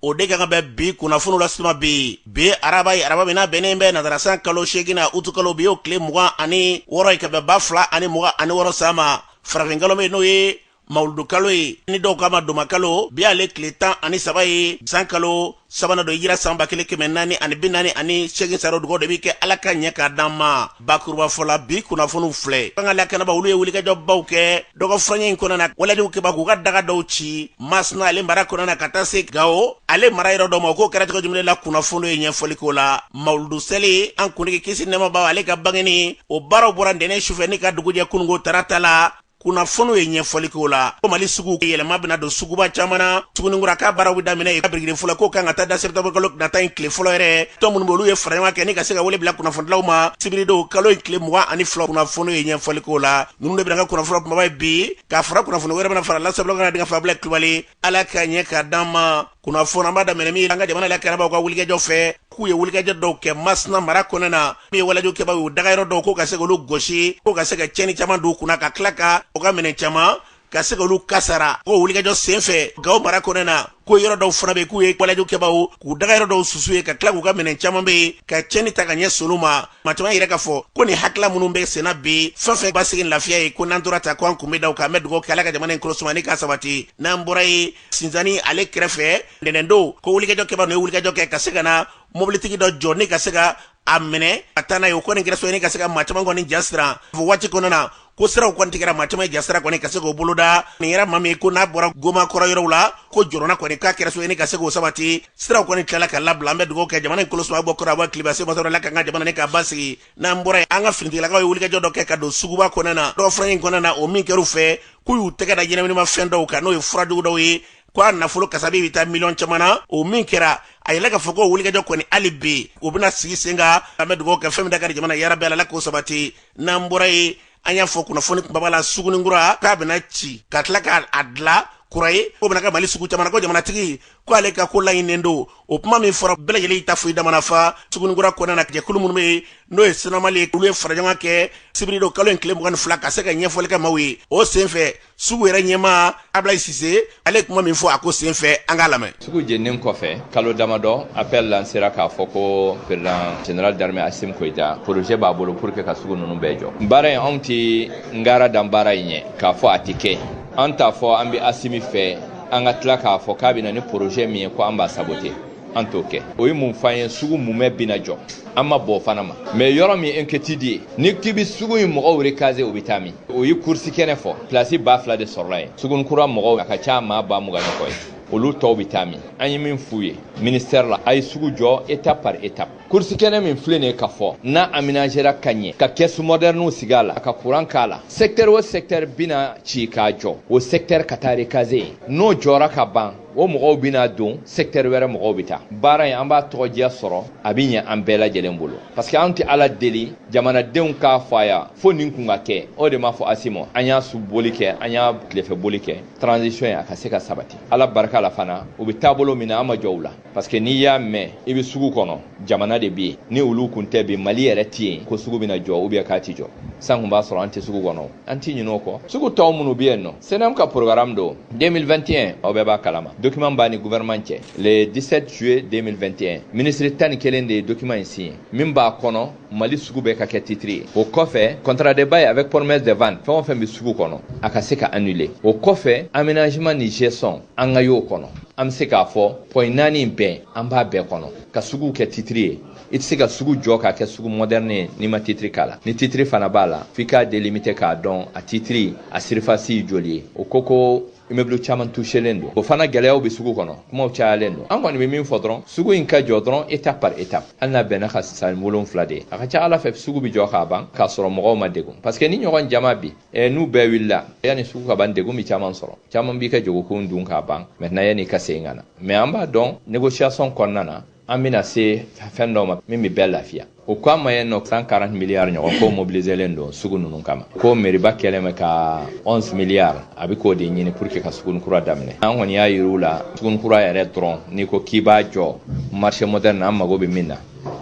o de ka kan bɛ bi kunnafoniw lase aw ma bi bi ye araba ye araba min n'a bɛnnen bɛ nazarasan kalo seeginnan utukalo bi y'o tile mugan ani wɔɔrɔ ye ka bɛn ba fila ani mugan ani wɔɔrɔ san ma farafinkalo min n'o ye mawuludukalo ye ni dɔw k'a ma dɔnbakalo bi ale tile tan ani saba ye san kalo sabanan don hijira san ba kelen kɛmɛ naani ani bi naani ani segin saro dugawu de bɛ kɛ ala k'a ɲɛ k'a d'an ma bakurubafɔ la bi kunnafoniw filɛ an ka lakanabaw olu ye wulikajɔbaw kɛ dɔgɔ furancɛ in kɔnɔna na walejugukɛbaw k'u ka daga dɔw ci masina ale mara kɔnɔna na ka taa se gawo ale mara yɔrɔ dɔ ma k'o kɛra cogo jumɛn la kunnafoniw ye ɲɛfɔli k'o la mawuludu seli an kuntigi kisi nɛɛma b'a ye ale ka bangeni o baaraw bɔra ntɛnɛn sufɛ ni ka dugujɛ kununko tarata la kunnafoniw ye ɲɛfɔli k'o la ko mali sugu yɛlɛma bɛna don suguba caman na suguninkura k'a baaraw bɛ daminɛ yen ka birikiden fɔlɔ k'o kan ka taa da septembre kalo nata in tile fɔlɔ yɛrɛ tɔn minnu bɛ olu ye fara ɲɔgɔn kɛ ni ka se ka wele bila kunnafonidilaw ma sibiridon kalo in tile mugan ani fila kunnafoniw ye ɲɛfɔli k'o la ninnu de bɛna kɛ kunnafoni kunbaba ye bi ka fara kunnafoni wɛrɛ bɛna fara la sabula ka na denkɛ fabila kulubali ala k'a ɲɛ k'a d'an ma kunnafoni an b'a daminɛ min an ka jamana lakanabaw ka wulikajɔ fɛ k'u ye wulikajɔ dɔw kɛ masina mara kɔnɔna min ye walejugukɛbaw y'u dagayɔrɔ dɔw ko ka se k'olu gosi ko ka se ka cɛni caman don u kunna ka tila ka u ka minɛn caman ka se k'olu kasara ko wulikajɔ sen fɛ gawo mara kɔnɔna ko yɔrɔ dɔw fana bɛ k'u ye walejugukɛbaw k'u dagayɔrɔ dɔw susu yen ka tila k'u ka minɛn caman bɛ yen ka cɛni ta ka ɲɛsin olu ma maa caman yɛrɛ k'a fɔ ko nin hakila minnu bɛ senna bi fɛn fɛn basigi lafiya ye ko n'an tora ta ko an kun bɛ da u kan an bɛ dugawu kɛ ala ka jamana in kolosuma ni k'a sabati n'an bɔra yen sinzani ale kɛrɛfɛ ntɛnɛndon ko wulikajɔ kɛbaw n'o ye wulikajɔ kɛ ka se ka na mobilitigi dɔ jɔ ni ka se ka a minɛ ka taa n'a ye o kɔni kɛra sabu ye ni ka se ka maa caman kɔni jasiran o waati kɔnɔna na ko siraw kɔni tigɛra maa caman jasiran kɔni ka se k'o boloda nin yɛrɛ ma min ko n'a bɔra gomakɔrɔ yɔrɔw la ko jɔrɔnanko in k'a kɛra sabu ye ni ka se k'o sabati siraw kɔni tilala ka labila an bɛ dugawu kɛ jamana in kolosuma bɔ kɔrɔn a bɔ tilebin semasɔrɔ la ka ka jamana ni k'a basigi n'an bɔra an ka finitigilakaw ye wulikajɔ dɔ kɛ ka don suguba kɔnɔna na dɔgɔ fura in kɔnɔna na o min kɛr'u fɛ k'u y'u tɛgɛ da ɲɛnaminima fɛn dɔw kan n'o ye furajugu dɔw ye ko a nafolo kasabi bɛ taa miliyɔn caman na o min kɛra a yɛlɛ k'a fɔ ko wulikajɔ kɔni hali bi o bɛna sigi sen kan an bɛ dugawu kɛ fɛn min da ka di jamana yarabi ala k'o sabati n'an bɔra yen an y'a fɔ kunnafoni kunbaba la suguninkura k'a bɛna ci ka tila k'a a dilan kura ye k'o bɛna kɛ mali sugu caman na ko jamanatigi ko ale ka ko laɲinilen don o kuma min fɔra bɛɛ lajɛlen ta foyi damana fa suguninkura kɔnɔna na jɛkulu minnu bɛ yen n'o ye sinamali ye olu ye faraɲɔgɔn kɛ sibiridon kalo in tile mugan ni fila ka se ka ɲɛfɔli kɛ maaw ye o senfɛ sugu yɛrɛ ɲɛmaa ablayi sise ale ye kuma min fɔ a ko sen fɛ an k'a lamɛn sugu jeninen kɔfɛ kalo damadɔ apɛl lansera k'a fɔ ko président général d'armée asimi goyita projet b'a bolo pour que ka sugu ninnu bɛɛ jɔ baara in anw tɛ ngaran da baara in ɲɛ k'a fɔ a tɛ kɛ an t'a fɔ an bɛ asimi fɛ an ka tila k'a fɔ k'a bɛ na ni projet min ye ko an b'a sabote an t'o kɛ o ye mun f'an ye sugu mumɛ bina jɔ an ma ban o fana ma mais yɔrɔ min inquiétude ye n'i k'i be sugu in mɔgɔw rekaze o be taa min u ye kursi kɛnɛ fɔ plasi ba fila de sɔrɔla yen suguni kura mɔgɔw a ka ca maa ba mugan ni kɔ ye olu tɔw be taa min an ye min f'u ye ministɛri la a ye sugu jɔ étape par étape kursi kɛnɛ min filɛ nin ye ka fɔ n'a aménagera ka ɲɛ ka kɛsu modɛrniw sigi a la a ka kuran k'a la sɛktɛri o sɛktɛri bina ci k'a jɔ o sɛktɛri ka taa rekaze n'o jɔra ka ban o mɔgɔw bɛna don sɛktɛri wɛrɛ mɔgɔw bɛ taa baara in an b'a tɔgɔdiya sɔrɔ a bɛ ɲɛ an bɛɛ lajɛlen bolo parce que an tɛ ala deli jamanadenw k'a fɔ a ya fo nin kun ka kɛ o de m'a fɔ asimi an y'a su boli kɛ an y'a tilefɛ boli kɛ transition in a ka se ka sabati ala barika la fana u bɛ taabolo min na an ma jɔn u la parce que n'i y'a mɛn i bɛ sugu kɔnɔ jamana de bɛ yen ni olu kun tɛ bi mali yɛrɛ tɛ yen ko sugu bɛna jɔ ou bien k'a tɛ jɔ san kun b'a sɔrɔ an tɛ sugu kɔnɔ an ti ɲin'o kɔ sugu tɔw minnu bɛ yen nɔ CNAM ka programme don 2021 aw bɛɛ b'a kalama document b'an ni gouvernement cɛ le 17 juillet 2021 minisiri tan ni kelen de ye document in signer min b'a kɔnɔ mali sugu bɛɛ ka kɛ titiri ye o kɔfɛ contrat de bail avec promesse de vente fɛn o fɛn bɛ sugu kɔnɔ a ka se ka annuler o kɔfɛ aménagement ni gestion an ka y'o kɔnɔ an bɛ se k'a fɔ point naani in bɛɛ an b'a bɛɛ kɔnɔ ka suguw kɛ titiri ye i tɛ se ka sugu jɔ k'a kɛ sugu moderne ye n'i ma titiri k'a la ni titiri fana b'a la f'i k'a délimiter k'a dɔn a titiri a surface ye joli ye o ko ko immeuble caman touchelen don o fana gɛlɛyaw bɛ sugu kɔnɔ kumaw cayalen don an kɔni bɛ min fɔ dɔrɔn sugu in ka jɔ dɔrɔn étape par étape hali n'a bɛna kɛ san wolonfila de ye a ka ca ala fɛ sugu bɛ jɔ k'a ban k'a sɔrɔ mɔgɔw ma degun parce que nin ɲɔgɔn jama bi eh, n'u bɛɛ wulila yanni sugu ka ban degun bɛ caman sɔrɔ caman b'i ka jagokun dun k'a ban maintenant yanni ka segin ka na mais an b'a dɔn négociation kɔnɔna na an bɛna se fɛn dɔ ma min bɛ bɛɛ lafiya o ko an ma yen nɔ 140 miliyari ɲɔgɔn ko mobiliselen don sugu ninnu kama ko meriba kɛlen bɛ ka 11 miliyari a bɛ k'o de ɲini pour que ka suguni kura daminɛ an kɔni y'a yir'u la suguni kura yɛrɛ dɔrɔn n'i ko k'i b'a jɔ marché moderne an mago bɛ min na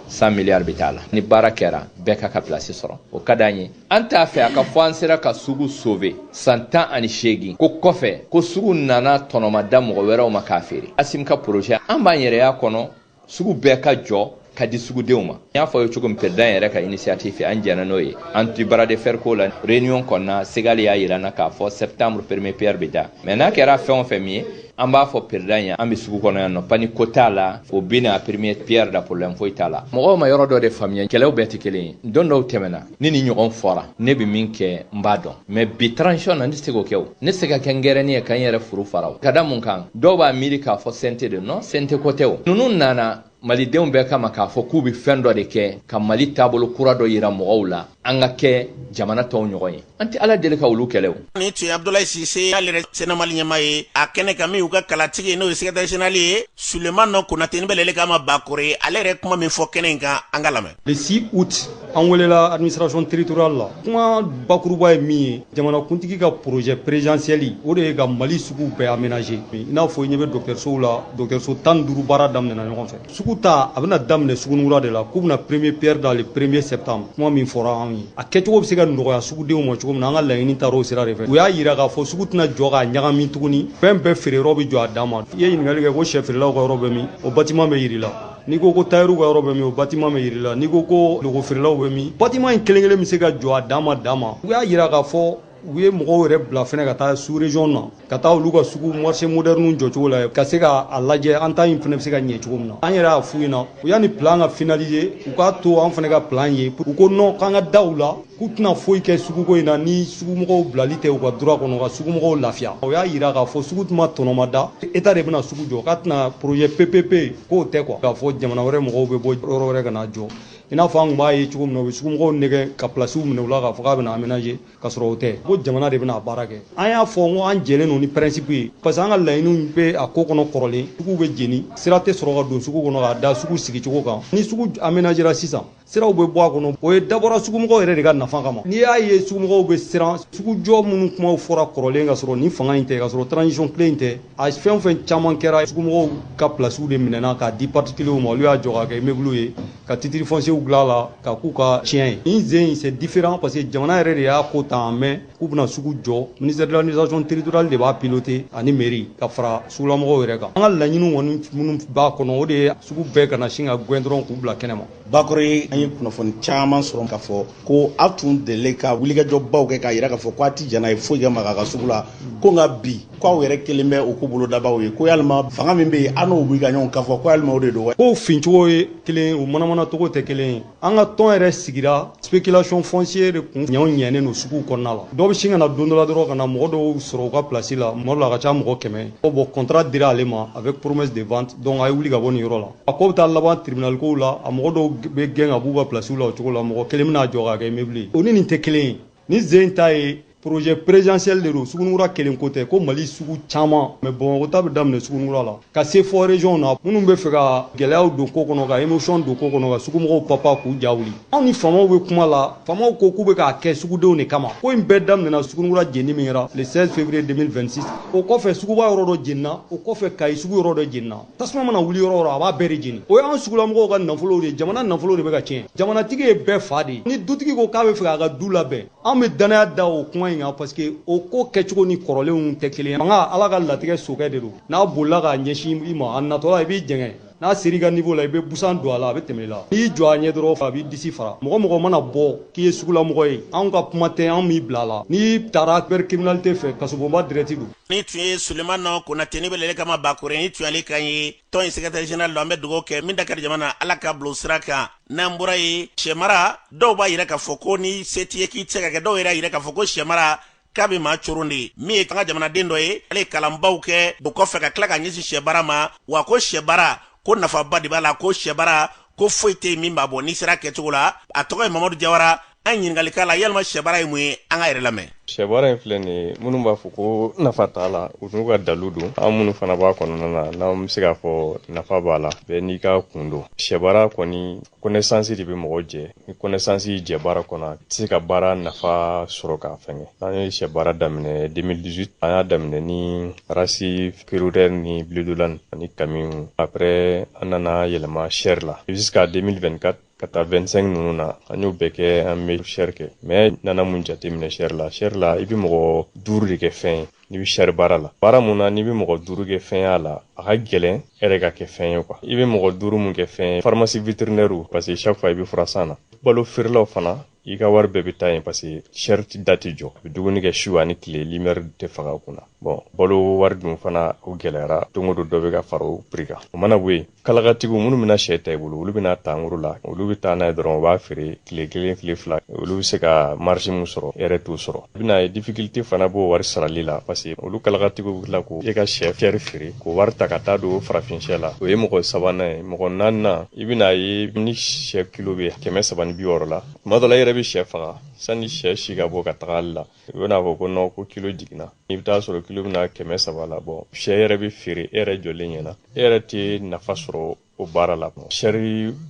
100 miliyari bɛ t'a la ni baara kɛra bɛɛ k'a ka place sɔrɔ o ka d'an ye an t'a fɛ a ka fɔ an sera ka sugu sauver san tan ani seegin k'o kɔfɛ ko sugu nana tɔnɔmada mɔgɔ wɛrɛw ma k'a feere asimi ka porozɛ an b'an yɛrɛya kɔnɔ sugu bɛɛ ka jɔ ka di sugudenw ma n y'a f'aw ye cogo min président yɛrɛ ka initiative fɛ an jɛna n'o ye an ti bras de fer ko la réunion kɔnɔna segali y'a yir'an na k'a fɔ septembre premier pierre bɛ da mais n'a kɛra fɛn o fɛn min ye an b'a fɔ président ye an bɛ sugu kɔnɔ yan nɔ pani ko t'a la o bɛ na premier pierre da problème foyi t'a la mɔgɔw ma yɔrɔ dɔ de faamuya kɛlɛw bɛɛ tɛ kelen ye don dɔw tɛmɛna ni nin ɲɔgɔn fɔra ne bɛ min kɛ n b'a dɔn mais bi transition na ne tɛ se k'o kɛ o ne tɛ se ka kɛ ngɛrɛnin ye ka n yɛrɛ furu fara o ka da mun kan dɔw b'a miiri k'a fɔ CNT de non CNT ko tɛ o ninnu nana malidenw bɛɛ kama k'a fɔ k'u bɛ fɛn dɔ de kɛ ka mali taabolo kura dɔ yira mɔgɔw la an ka kɛ jamana tɔw ɲɔgɔn ye an tɛ ala deli ka olu kɛlɛ o nin tun ye abdulayi sise y'ale yɛrɛ cnam mali ɲɛmaa ye a kɛnɛ kan min y'u ka kalatigi ye n'o ye secrétaire général ye sulemani konate ni bɛ wele k'a ma bakore ale yɛrɛ kuma min fɔ kɛnɛ in kan an k'a lamɛn le 6 août an welela administration territoriale la kuma bakuruba ye min ye jamanakuntigi ka projet présidentiel o de ye ka mali sugu bɛɛ aménager i n'a fɔ i ɲɛ bɛ dɔgɔtɔrɔsow la dɔgɔtɔrɔso tan ni duuru baara daminɛna ɲɔgɔn fɛ sugu ta a bɛna daminɛ sugunikura de la k'u bɛna premier pierre da le premier septembre kuma min fɔra an ye a kɛcogo bɛ se ka nɔgɔya sugudenw ma cogo min na an ka laɲini taara o sira de fɛ u y'a yira k'a fɔ sugu tɛna jɔ k'a ɲagami tuguni fɛn bɛɛ feere yɔrɔ bɛ jɔ a dan ma i ye ɲininkali kɛ ko sɛfeerelaw ka yɔrɔ bɛ min o batiman bɛ yir'i la n'i ko ko tayɛriw ka yɔrɔ bɛ min o batiman bɛ yir'i la n'i ko ko lɔgɔfeerelaw bɛ min batiman in kelen kelen bɛ se ka jɔ a dan ma dan ma u y'a yira k'a fɔ u ye mɔgɔw yɛrɛ bila fɛnɛ ka taa sous-région na ka taa olu ka sugu marché moderniw jɔcogo lajɛ ka se ka a lajɛ an ta in fɛnɛ bɛ se ka ɲɛ cogo min na an yɛrɛ y'a f'u ɲɛna u yani plan ka finaliser u k'a to an fɛnɛ ka plan ye u ko non k'an ka da u la k'u tɛna foyi kɛ suguko in na ni sugumɔgɔw bilali tɛ u ka droit kɔnɔ ka sugumɔgɔw lafiya o y'a yira k'a fɔ sugu tun ma tɔnɔmada état de bɛna sugu jɔ k'a tɛna projet ppp ko tɛ quoi k'a fɔ jamana wɛrɛ mɔgɔw bɛ bɔ yɔrɔ wɛrɛ ka na jɔ i n'a fɔ an tun b'a ye cogo min na u bɛ sugumɔgɔw nɛgɛn ka pilasiw minɛ u la k'a fɔ k'a bɛna aménager ka sɔrɔ o tɛ ko jamana de bɛna a baara kɛ an y'a fɔ n ko an jɛlen don ni principe ye parce que an ka laɲiniw bɛ a ko kɔnɔ kɔrɔlen suguw bɛ jeni sira tɛ sɔrɔ ka don sugu kɔnɔ k'a da sugu sigicogo kan ni sugu aménagera sisan siraw bɛ bɔ a kɔnɔ o ye dabɔra sugumɔgɔw yɛrɛ de ka nafa kama n'i y'a ye sugumɔgɔw bɛ siran sugujɔ minnu kumaw fɔra kɔrɔlen ka sɔrɔ nin fanga in tɛ ka sɔrɔ transition kile in tɛ a fɛn o fɛn caman kɛra sugumɔgɔw ka pilasiw de minɛna k'a di particuliers ma olu y'a jɔ k'a kɛ immeubles ye ka titre fonciers dilan a la k'a k'u ka ciyɛn ye nin sen in c'est différent parce que jamana yɛrɛ de y'a ko ta en main k'u bɛna sugu jɔ ministère de l'administration territoriale de b'a piloter ani mairie ka fara sugulamɔgɔw yɛrɛ kan an ka laɲini kɔni minnu b'a kɔnɔ o de ye sugu bɛɛ kana sin ka gɛn dɔrɔn k'u bila kɛnɛma bakore an ye kunnafoni caman sɔrɔ k'a fɔ ko aw tun delila ka wulikajɔbaw kɛ k'a yira k'a fɔ ko a ti jɛn n'a ye foyi ka maga a ka sugu la ko nka bi ko aw yɛrɛ kɛlen bɛ o ko bolodabaaw ye ko yalima fanga min bɛ yen an n'o wuli ka ɲɔgɔn kan fɔ ko yalima o de don wa kow fincogo ye kelen o manamana cogo tɛ kelen ye An ka tɔn yɛrɛ sigira spéculation foncière de kun ɲɛw ɲɛnen don suguw kɔnɔna la. Dɔ bɛ sin ka na don dɔ la dɔrɔn ka na mɔgɔ dɔw sɔrɔ u ka place la, tuma dɔ la a ka ca mɔgɔ 100 ko bon contrat dira ale ma avec promesse de vente donc a ye wuli ka bɔ nin yɔrɔ la. A ko bɛ taa laban tribunal kow la, a mɔgɔ dɔw bɛ gɛn ka b'u ka place la o cogo la, mɔgɔ kelen bɛna a jɔ k'a kɛ immeuble ye. O ni nin tɛ kelen ye. nin sen ta ye projet présidentiel de don sugunikura kelen ko tɛ ko mali sugu caman mais bamakɔ ta bɛ daminɛ sugunikura la ka se fɔ régionw na minnu b'a fɛ ka gɛlɛyaw don ko kɔnɔ ka émotion don ko kɔnɔ ka sugumɔgɔw papa k'u ja wuli anw ni faamaw bɛ kuma la faamaw ko k'u bɛ k'a kɛ sugudenw de kama ko in bɛɛ daminɛna sugunikura jenni min kɛra le 16 février 2026 o kɔfɛ suguba yɔrɔ dɔ jenina o kɔfɛ kayi sugu yɔrɔ dɔ jenina tasuma mana wuli yɔrɔ o yɔrɔ a b'a bɛɛ de jeni o y'an sugulamɔgɔw ka nafolow de ye jamana nafolo de bɛ ka tiɲɛ jamanatigi ye bɛɛ fa de ye ni dutigi ko k'a b'a fɛ k'a ka du labɛn an bɛ dannaya da o kuma in kan parce que o ko kɛcogo ni kɔrɔlenw tɛ kelen ye fanga ala ka latigɛ sokɛ de don n'a bolila k'a ɲɛsin i ma a natɔla i b'i jɛngɛ n'a ser'i ka niveau la i bɛ busan don a la a bɛ tɛmɛ i la n'i y'i jɔ a ɲɛ dɔrɔn a b'i disi fara mɔgɔ mɔgɔ mana bɔ k'i ye sugulamɔgɔ ye anw ka kuma tɛ anw b'i bila a la n'i taara cybercriminalité fɛ kasobonba direct don nin tun ye sulemani konate nin bɛ wele kama bakore nin tun y'ale kan ye tɔn in secrétaire général don an bɛ dugawu kɛ min dakari jamana ala k'a bil'o sira kan n'an bɔra yen sɛmara dɔw b'a yira k'a fɔ ko ni se t'i ye k'i tɛ se k'a kɛ dɔw yɛrɛ y'a yira k'a fɔ ko sɛmara k'a bɛ maa coron de ye min ye an ka jamanaden dɔ ye ale ye kalanbaw kɛ o kɔfɛ ka tila ka ɲɛsin sɛbaara ma wa ko sɛbaara ko nafaba de b'a la ko sɛbaara ko foyi tɛ yen min b'a bɔ n'i sera kɛcogo la a tɔgɔ ye mamadu jawara an ye ɲininkali k'a la yalima sɛbaara ye mun ye an k'a yɛrɛ lamɛn sɛbaara in filɛ nin ye minnu b'a fɔ ko nafa t'a la u n'u ka dalu don an minnu fana b'a kɔnɔna na n'an bɛ se k'a fɔ nafa b'a la bɛɛ n'i ka kun don sɛbaara kɔni connaissance de bɛ mɔgɔ jɛ ni connaissance y'i jɛ baara kɔnɔ a tɛ se ka baara nafa sɔrɔ k'a fɛngɛ an ye sɛbaara daminɛ 2018 an y'a daminɛ ni race Kuroiler ni Bleu d'Hollande ani kamiw après an nana yɛlɛma chair la jusqu'à 2024 ka taa 25 ninnu na an y'o bɛɛ kɛ an bɛ chair kɛ mais n nana mun jateminɛ chair la chair la i bɛ mɔgɔ duuru de kɛ fɛn ye n'i bɛ chair baara la baara mun na n'i bɛ mɔgɔ duuru kɛ fɛn y'a la a ka gɛlɛn e yɛrɛ ka kɛ fɛn ye quoi i bɛ mɔgɔ duuru mun kɛ fɛn ye pharmacie vétérinaire parce que chaque fois i bɛ furasan na balo feerelaw fana i ka wari bɛɛ bɛ taa yen parce que chair da tɛ jɔ a bɛ dumuni kɛ su ani tile lumière tɛ faga u kunna bon balo wari dun fana o gɛlɛyara don o don dɔ bɛ ka fara o prix kan o mana bɔ yen kalakatigiw minnu bɛna sɛ ta i bolo olu bɛn'a ta en gros la olu bɛ taa n'a ye dɔrɔn u b'a feere tile kelen tile fila olu bɛ se ka marge min sɔrɔ e yɛrɛ t'o sɔrɔ bɛna ye difficulté fana b'o wari sarali la parce que olu kalakatigiw bɛ tila ka e ka sɛ feere feere k'o wari ta ka taa don farafin sɛ la o ye mɔgɔ sabanan ye mɔgɔ naaninan i bɛna ye ni sɛ kilo bɛ kɛmɛ saba ni bi wɔɔrɔ la tuma dɔ la i yɛrɛ bɛ sɛ faga sani sɛ si ka bɔ ka taga Halles la i bɛn'a fɔ ko non ko kilo jiginna i bɛ taa sɔrɔ kilo bɛ na kɛmɛ saba la bon sɛ yɛrɛ bɛ feere e yɛrɛ jɔlen ɲɛ na e yɛrɛ tɛ nafa sɔrɔ o baara la chair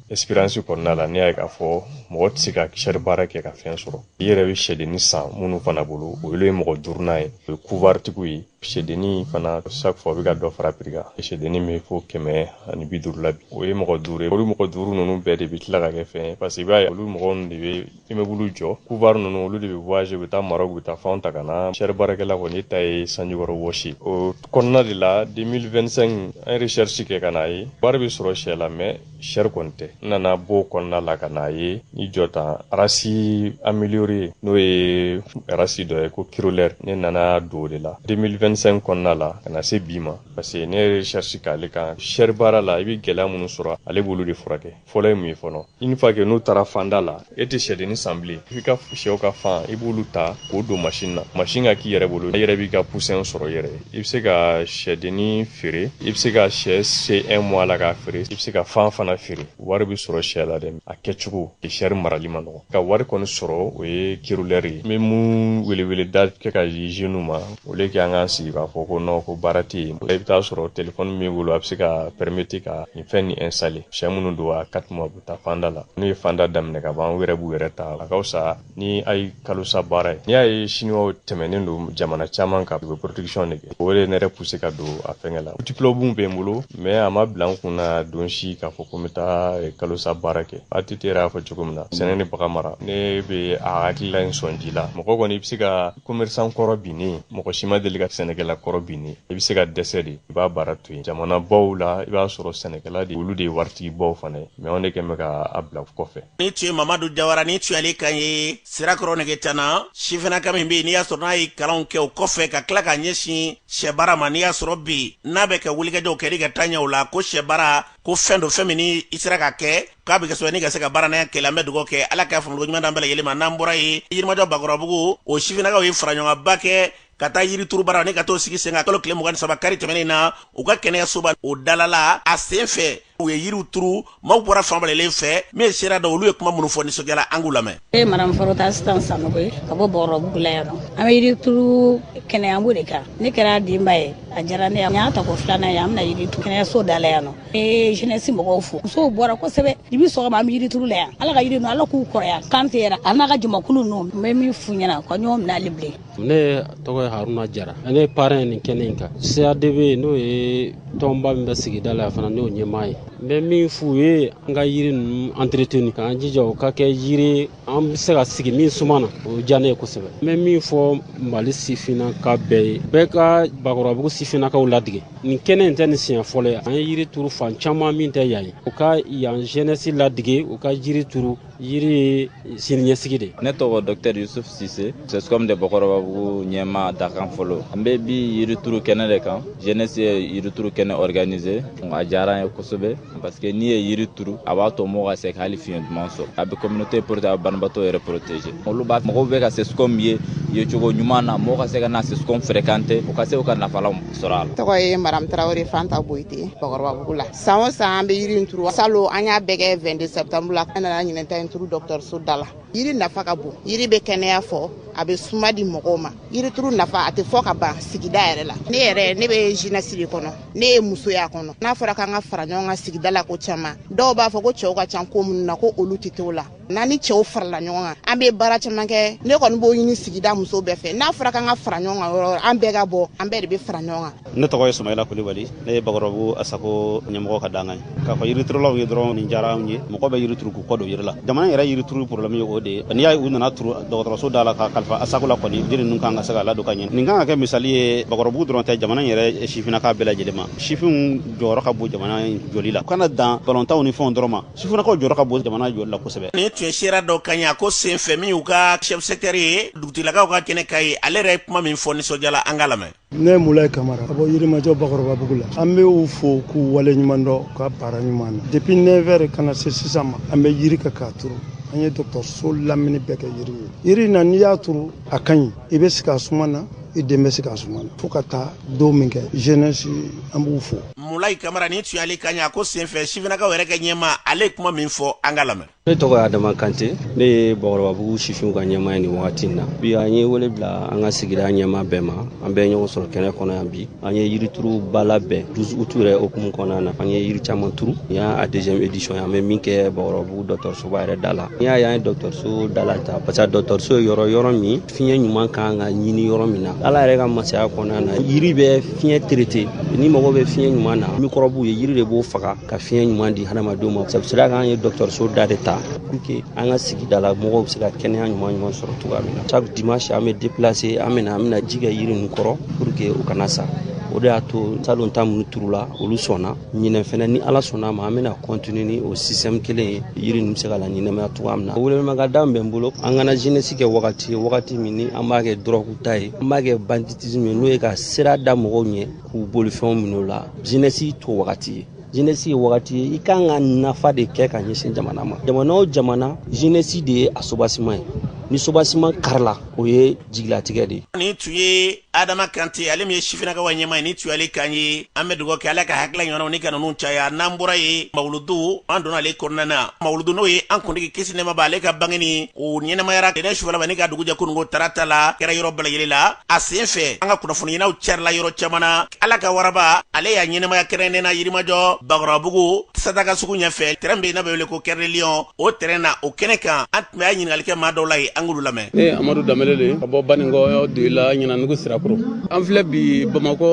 expérience kɔnɔna la ne y'a ye k'a fɔ mɔgɔ tɛ se ka chair baara kɛ ka fɛn sɔrɔ i yɛrɛ bɛ sɛdenni san minnu fana bolo olu ye mɔgɔ duurunan ye o ye couvoirtigiw ye sɛdenni fana chaque fois bɛ ka dɔ fara prix kan sɛdenni bɛ fo kɛmɛ ani bi duuru la bi o ye mɔgɔ duuru ye olu mɔgɔ duuru ninnu bɛɛ de bɛ tila ka kɛ fɛn ye parce que i b'a ye olu mɔgɔ ninnu de bɛ immeuble jɔ couvoir ninnu olu de bɛ voyage bɛ taa Maroc bɛ taa fan ta ka na sɛri baarakɛla kɔni ne ta ye sanjikɔrɔ wɔsi o kɔnɔna de la 2025 n ye recherche kɛ ka na a ye wari bɛ sɔrɔ sɛ la mɛ sɛri kɔni tɛ n nana bɔ kɔnɔna la ka na a ye ni jɔ tan race améliorée n'o ye race dɔ ye ko kirolɛri ne nana don o de la 2025 kɔnɔna la ka na se bi ma parce que ne ye recherche k'ale kan sɛri baara la i bɛ gɛlɛya minnu sɔrɔ ale bolo de furakɛ fɔlɔ ye mun ye fɔlɔ une fois que n'u taara fanda la e tɛ sɛdenni san bilen i ka sɛw ka fan i b'olu ta k'o don masin na masin ka k'i yɛrɛ bolo i yɛrɛ b'i ka pusɛn sɔrɔ i yɛrɛ ye i bɛ se ka sɛdenni feere i bɛ se ka sɛ se un mois la k'a feere i bɛ se ka fan fana feere wari bɛ sɔrɔ sɛ la dɛ a kɛcogo sɛri marali ma nɔgɔ ka wari kɔni sɔrɔ o ye kirolɛri ye n bɛ mun weleweleda kɛ ka jeunes ma o le kɛ an kana sigi k'a fɔ ko non ko baara tɛ yen i bɛ taa sɔrɔ telefɔni min b'i bolo a bɛ se ka pɛrɛmete ka nin fɛn nin installer sɛ minnu don a quatre mois u bɛ taa fanda la n'u ye fanda daminɛ ka ban u yɛrɛ b'u yɛrɛ ta a ka fisa ni a ye kalosa baara ye n'i y'a ye siniwaw tɛmɛnen don jamana caman kan u bɛ production de kɛ o de ye ne yɛrɛ pousser ka don a fɛngɛ la diplôme bɛ n bolo mɛ a ma bila n kun na don si k'a fɔ ko n bɛ taa eh, kalosa baara kɛ ATT yɛrɛ y'a fɔ cogo min na sɛnɛ ni baganmara ne bɛ a hakilila in sɔn ji la mɔgɔ kɔni i bɛ se ka commerçant kɔrɔ binnen mɔgɔ si ma deli ka sɛnɛkɛla kɔrɔ binnen i bɛ se ka dɛsɛ de i b'a baara to yen jamana baw la i b'a sɔrɔ sɛnɛkɛla de olu de ye waritigi baw fana ye mɛ anw de kɛn bɛ ka a bila kɔfɛ nin tun ye mamadu jawara nin tun y'ale kan ye sirakɔrɔ negetana sifinaka min bɛ yen n'i y'a sɔrɔ n'a ye kalanw kɛ o kɔfɛ ka tila ka ɲɛsin sɛ baara ma n'i y'a sɔrɔ bi n'a bɛ kɛ wulikajɔw kɛ ka taa ɲɛ o la ko sɛ baara ko fɛn don fɛn min ni i sera k'a kɛ k'a bɛ kɛ sɔrɔ ni ka se ka baarantanya kɛlɛ an bɛ dugawu kɛ ala k'a faamuyali ɲuman d'an bɛɛ lajɛlen ma n'an bɔra yen yirimajɔ bakɔrɔbabugu o sifinnakaw ye faraɲɔgɔnba kɛ ka taa yirituru baara ni ka t'o sigi sen kan kalo tile mugan ni saba kari tɛmɛnen na u ka kɛnɛyasoba o dalala a sen fɛ u ye yiriw turu maaw bɔra fan bɛɛ lajɛlen fɛ min ye sera da olu ye kuma minnu fɔ nisɔndiya la an k'u lamɛn ne ye madame farota asitan sanogo ye ka bɔ bakɔrɔbabugu la yan nɔ an bɛ yirituru kɛnɛyanko de kan ne kɛra denba ye a diyara ne ye nin y'a tako filanan ye an bɛna yiri turu kɛnɛyaso da la yan nɔ n ye jeunesse mɔgɔw fo musow bɔra kosɛbɛ dɛ bi sɔgɔma an bɛ yirituru la yan ala ka yiri ninnu ala k'u kɔrɔya kantɛ yɛrɛ a n'a ka jamakulu ninnu n bɛ min f'u ɲɛna u ka ɲɔgɔn minɛ hali bilen ne tɔgɔ ye haruna jara ne parɛn ye nin kɛnɛ in kan CADB n'o ye tɔnba min bɛ sigida la fana ne y'o ɲɛmaa ye n bɛ min f'u ye an ka yiri ninnu entretenu k'an jija u ka kɛ yiri an bɛ se ka sigi min suma na o diya ne ye kosɛbɛ n bɛ min fɔ mali sifinnaka bɛɛ ye bɛɛ ka bakɔrɔbabugu sifinnakaw ladege nin kɛnɛ in tɛ nin siɲɛ fɔlɔ ye an ye yiri turu fan caman min tɛ yan ye u ka yan jeunesse ladege u ka yiri turu yiri ye siniɲɛsigi de ne tɔgɔ dɔktɛr yusuf sise sescom de bakɔrɔbabugu ɲɛmaa dankan fɔlɔ an be bi yirituru kɛnɛ de kan jeunesse ye yirituru kɛnɛ organiser a diyara an ye kosɛbɛ parce que n'i ye yiri turu a b'a to mɔgɔ ka se ka hali fiɲɛ duman sɔrɔ a be communauté protéger a banabaatɔ yɛrɛ protéger olu b'a mɔgɔw be ka sescom ye ye cogo ɲuman na mɔgɔ ka se ka na sescom fréquenter u ka se u ka nafa lasɔrɔ a la tɔgɔ ye madame tarawre fanta boyite bakɔrɔbabugu la san o san an bɛ yiri in turu salon an y'a bɛɛ kɛ 22 septembre la an nana ɲinɛ ta in turu dɔgɔtɔrɔso da la yiri nafa ka bon yiri bɛ kɛnɛya fɔ a bɛ suma di mɔgɔw ma yirituru nafa a tɛ fɔ ka ban sigida yɛrɛ la ne yɛrɛ ne bɛ jeunesse de kɔnɔ ne ye muso y'a kɔnɔ n'a fɔra k'an ka fara ɲɔgɔn kan sigida la ko caman dɔw b'a fɔ ko cɛw ka ca ko minnu na ko olu tɛ t'o la n'an ni cɛw farala ɲɔgɔn kan an bɛ baara caman kɛ ne kɔni b'o ɲini sigida muso bɛɛ fɛ n'a fɔra k'an ka fara ɲɔgɔn kan yɔrɔ an bɛɛ ka bɔ an bɛɛ de bɛ fara ɲɔgɔn kan ne tɔgɔ ye sumayila kulibali ne ye bakɔrɔbabugu asako ɲɛmɔgɔ ka dankan ye k'a fɔ yiriturulaw ye dɔrɔn nin diyara anw ye mɔgɔ bɛ yirituru k'u kɔ don yiri la jamana yɛrɛ yirituru problème ye o de ye n'i y'a ye u nana turu dɔgɔtɔrɔso da la ka kalifa asako la kɔni yiri ninnu kan ka se ka ladon ka ɲɛ nin kan ka kɛ misali ye bakɔrɔbabugu dɔrɔn tɛ jamana yɛrɛ sifinaka bɛɛ lajɛlen ma sifinw jɔyɔrɔ ka bon jamana jɔli la u kana dan balontanw ni fɛnw dɔrɔn ma sifinakaw jɔyɔrɔ ka bon jamana jɔli la kosɛbɛ nin tun ye sera dɔ kan y'a ko sen fɛ min y'u ka chef secteur ye dugutigilakaw ka kɛnɛ ka ye ale yɛrɛ ye kuma min fɔ nisɔndiya la an ka lamɛn ne mulayi kamara ka bɔ yirimajɔ bakɔrɔbabugu la an bɛ u fo k'u waleɲumandɔn u ka baara ɲuman na depuis 9 heures ka na se sisan ma an bɛ yiri kan k'a turu an ye dɔgɔtɔrɔso lamini bɛɛ kɛ yiri ye yiri na n'i y'a turu a ka ɲi i bɛ sigi a suma na i den bɛ sigi a suma na fo ka taa don min kɛ jeunesse an b'u fo mulayi kamara nin tun y'ale kan ye a ko senfɛ sifinakaw yɛrɛ ka ɲɛmaa ale ye kuma min fɔ an ka lamɛn ne tɔgɔ ye adama kante ne ye bakɔrɔbabugu sifinw ka ɲɛmaa ye nin wagati na bi an ye wele bila an ka sigida ɲɛmaa bɛɛ ma an bɛ ɲɔgɔn sɔrɔ kɛnɛ kɔnɔ yan bi an ye yirituru ba labɛn 12 août yɛrɛ hukumu kɔnɔna na an ye yiri caman turu nin y'a deuxième édition ye an bɛ min kɛ bakɔrɔbabugu dɔgɔtɔrɔsoba yɛrɛ da la n'i y'a y'an ye dɔgɔtɔrɔso da la ta parce que dɔgɔtɔrɔso ye yɔrɔ yɔrɔ min fiɲɛ ɲuman kan ka ɲini yɔrɔ min na ala yɛrɛ ka masaya kɔnɔna na yiri bɛ fiɲɛ traiter ni mago bɛ fiɲɛ ɲuman na mikɔrɔbuw ye yiri de b'o faga ka fiɲɛ ɲuman di hadamadenw ma c'est pour cela k'an ye dɔgɔtɔrɔso da de ta pour que an ka sigida la mɔgɔw bɛ se ka kɛnɛya ɲuman ɲuman sɔrɔ cogoya min na chaque dimanche an bɛ déplacer an bɛna an bɛna ji kɛ yiri ninnu kɔrɔ pour que u kana sa o de y'a to salon ta minnu turula olu sɔnna ɲinɛ fɛnɛ ni ala sɔnna a ma an bɛna continuer ni o système kelen ye yiri ninnu bɛ se ka laɲɛnamaya cogoya min na welemaka da min bɛ n bolo an kana jeunesse kɛ wagati ye wagati min ni an b'a kɛ dɔrɔgu ta ye an b'a kɛ banditisme ye n'o ye ka sira da mɔgɔw ɲɛ k'u bolofɛnw minɛ u la jeunesse t'o wagati ye jeunesse ye wagati ye i kan ka nafa de kɛ ka ɲɛsin jamana ma jamana o jamana jeunesse de ye a sobasiman ye ni sobasiman karila o ye jigilatigɛ de ye nin tun ye adama kante ale min ye sifinnakaw ɲɛmaa ye nin tun y'ale kan ye an bɛ dugawu kɛ ala ka hakilila ɲɔgɔnnaw ni ka ninnu caya n'an bɔra yen mawuludu an donna ale kɔnɔna na mawuludu n'o ye an kuntigi kisi nɛɛma b'a ale ka bangeni o ɲɛnamayara tɛnɛn sufɛla ma ni ka dugu jɛ kununko tarata la kɛra yɔrɔ bɛɛ lajɛlen na a sen fɛ an ka kunnafoni ɲininaw carila yɔrɔ caman na ala ka waraba ale y'a ɲɛnamaya kɛrɛnnen na yirimajɔ bakɔrɔbabugu sadaka sugu ɲɛfɛ tɛrɛn bɛ yen n'a bɛ wele ko cœur de lion o tɛrɛn na o kɛnɛ kan mɛ an ɲininkali kɛ maa dɔw la yen an k'olu lamɛn ne amadu danbele de ka bɔ baninkɔ doyila ɲinandugu sirakɔrɔ an filɛ bi bamakɔ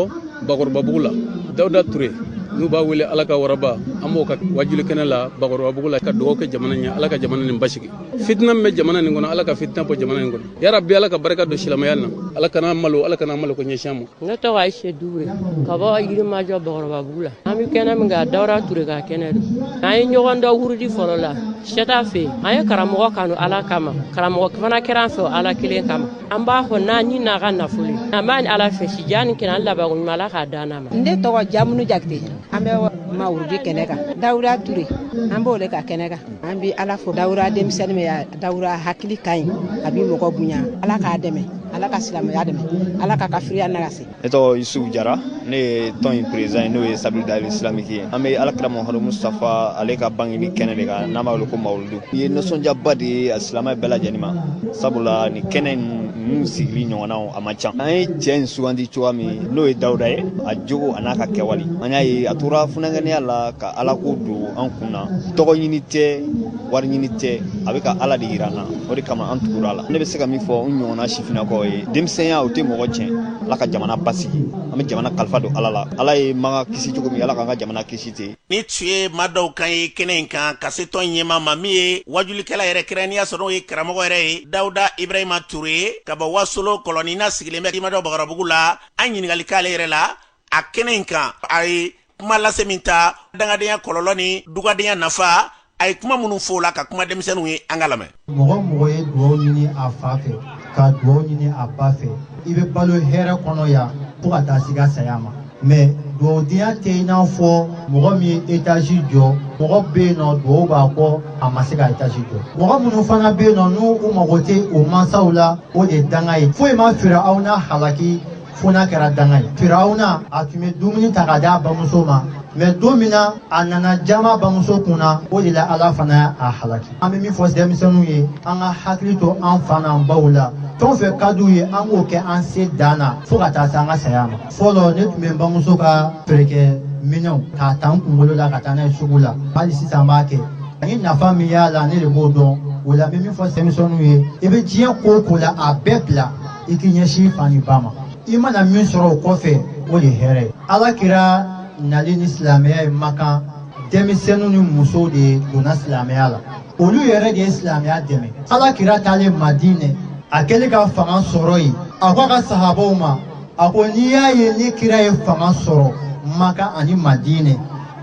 bakɔrɔbabugu la dawuda ture n'u b'a wele ala ka waraba an b'o ka wajuli kɛnɛ la bakɔrɔbabugu la ka dugawu kɛ jamana ɲɛ ala ka jamana nin basigi fitina min bɛ jamana nin kɔnɔ ala ka fitina bɔ jamana nin kɔnɔ ya rabbi ala ka barika don silamɛya na ala kan'an malo ala kana malo ko ɲɛsin an ma ne tɔgɔ ayise duure ka bɔ yirimajɔ bakɔrɔbabugu la an bɛ kɛnɛ min kan dawuda ture ka kɛnɛ don an ye ɲɔgɔn dɔn wurudi fɔlɔ la seta fɛ an ye karamɔgɔ kanu ala kama karamɔgɔ fana kɛra an fɛ ala kelen kama an b'a fɛ n'an ni n'an ka nafolo an b'a ɲini ala fɛ si jan ni kɛnɛya ni labanko ɲuman ala k'a d'an ma ne tɔgɔ jamunu jakite an bɛ mawurudi kɛnɛ kan dawuda ture an b'o le ka kɛnɛ kan an bi ala fo dawuda denmisɛnnin dawuda hakili ka ɲi a bi mɔgɔ bonya ala k'a dɛmɛ ala ka silamɛya dɛmɛ ala ka kafiriya nagasi ne tɔgɔ yusufu jara ne ye tɔn in peresidan ye n'o ye sabili dali isilamiki ye an bɛ alakira mamadu mustafa ale ka bangeni kɛnɛ de kan n'an b'a wele ko mawuludu i ye nisɔndiyaba de ye an silamɛ bɛɛ lajɛlen ma sabula nin kɛnɛ ninnu sigili ɲɔgɔnnaw a man ca an ye cɛ in sugandi cogoya min n'o ye dawuda ye a jogo a n'a ka kɛwale an y'a ye a tora funankɛniya la ka alako don an kun na tɔgɔ ɲini tɛ wari ɲini tɛ a bɛ ka ala de yira an na o de kama an tugura a la ne bɛ se ka min fɔ n ɲɔgɔnna sifinnakaw ye denmisɛnya o tɛ mɔgɔ tiɲɛ ala ka jamana basigi an bɛ jamana kalifa don ala la ala ye maka kisi cogo min ala k'an ka jamana kisi ten nin tun ye maa dɔw kan ye kɛnɛ in kan ka se tɔn ɲɛmaa ma min ye wajulikɛla yɛrɛ kɛrɛnnenya sɔrɔ n'o ye karamɔgɔ yɛrɛ ye dawuda ibrahima ture ye ka bɔ wasolo kɔlɔni n'a sigilen bɛ yirimajɔ bakɔrɔbabugu la an ɲininkali k'ale yɛrɛ la a kɛnɛ in kan a ye kuma lase min ta dangadenya kɔlɔlɔ ni dugadenya nafa a ye kuma minnu fɔ o la ka kuma denmisɛnninw ye an k'a lamɛn mɔgɔ o mɔgɔ ye dugaw ɲini a fa fɛ ka dugaw ɲini a ba fɛ i bɛ balo hɛrɛ kɔnɔ yan fo ka taa s'i ka saya ma mɛ dugawudenya tɛ i n'a fɔ mɔgɔ min ye etazi jɔ mɔgɔ bɛ yen nɔ dugawu b'a kɔ a ma se ka etazi jɔ mɔgɔ minnu fana bɛ yen nɔ n'u mago tɛ u mansaw la o de ye danga ye foyi ma firawuna halaki fo n'a kɛra danga ye firawuna a tun bɛ dumuni ta k'a di a bamuso ma mɛ don min na a nana jaman a bamuso kun na o de la ala fana y'a halaki an bɛ min fɔ denmisɛnninw ye an k'an hakili to an fa n'an baw la fɛn o fɛn ka d'u ye an k'o kɛ an se dan na fo ka taa se an ka saya ma fɔlɔ ne tun bɛ n bamuso ka feerekɛ minɛnw k'a ta n kunkolo la ka taa n'a ye sugu la hali sisan n b'a kɛ ani nafa min y'a la ne de b'o dɔn o la n bɛ min fɔ denmisɛnninw ye i bɛ diɲɛ ko o ko la a bɛɛ bila i k'i ɲɛsin fa ni ba ma i mana min sɔrɔ o kɔfɛ o de hɛrɛ ye ala kira nali ni silamɛya ye makan denmisɛnninw ni musow de donna silamɛya la olu yɛrɛ de ye silamɛya dɛmɛ ala kira taalen madinɛ a kɛlen ka fanga sɔrɔ yen a ko a ka sahabaw ma a ko n'i y'a ye ni kira ye fanga sɔrɔ makan ani madinɛ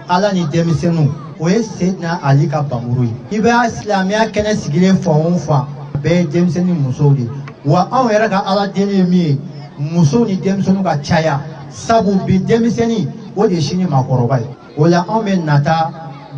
ala ni denmisɛnninw o ye seidina ali ka npanmuru ye i bɛ silamɛya kɛnɛ sigilen fan o fan bɛɛ ye denmisɛnnin ni musow de wa anw yɛrɛ ka ala deli ye min ye musow ni denmisɛnninw ka caya sabu bi denmisɛnnin o de ye sini maakɔrɔba ye o la anw bɛ nata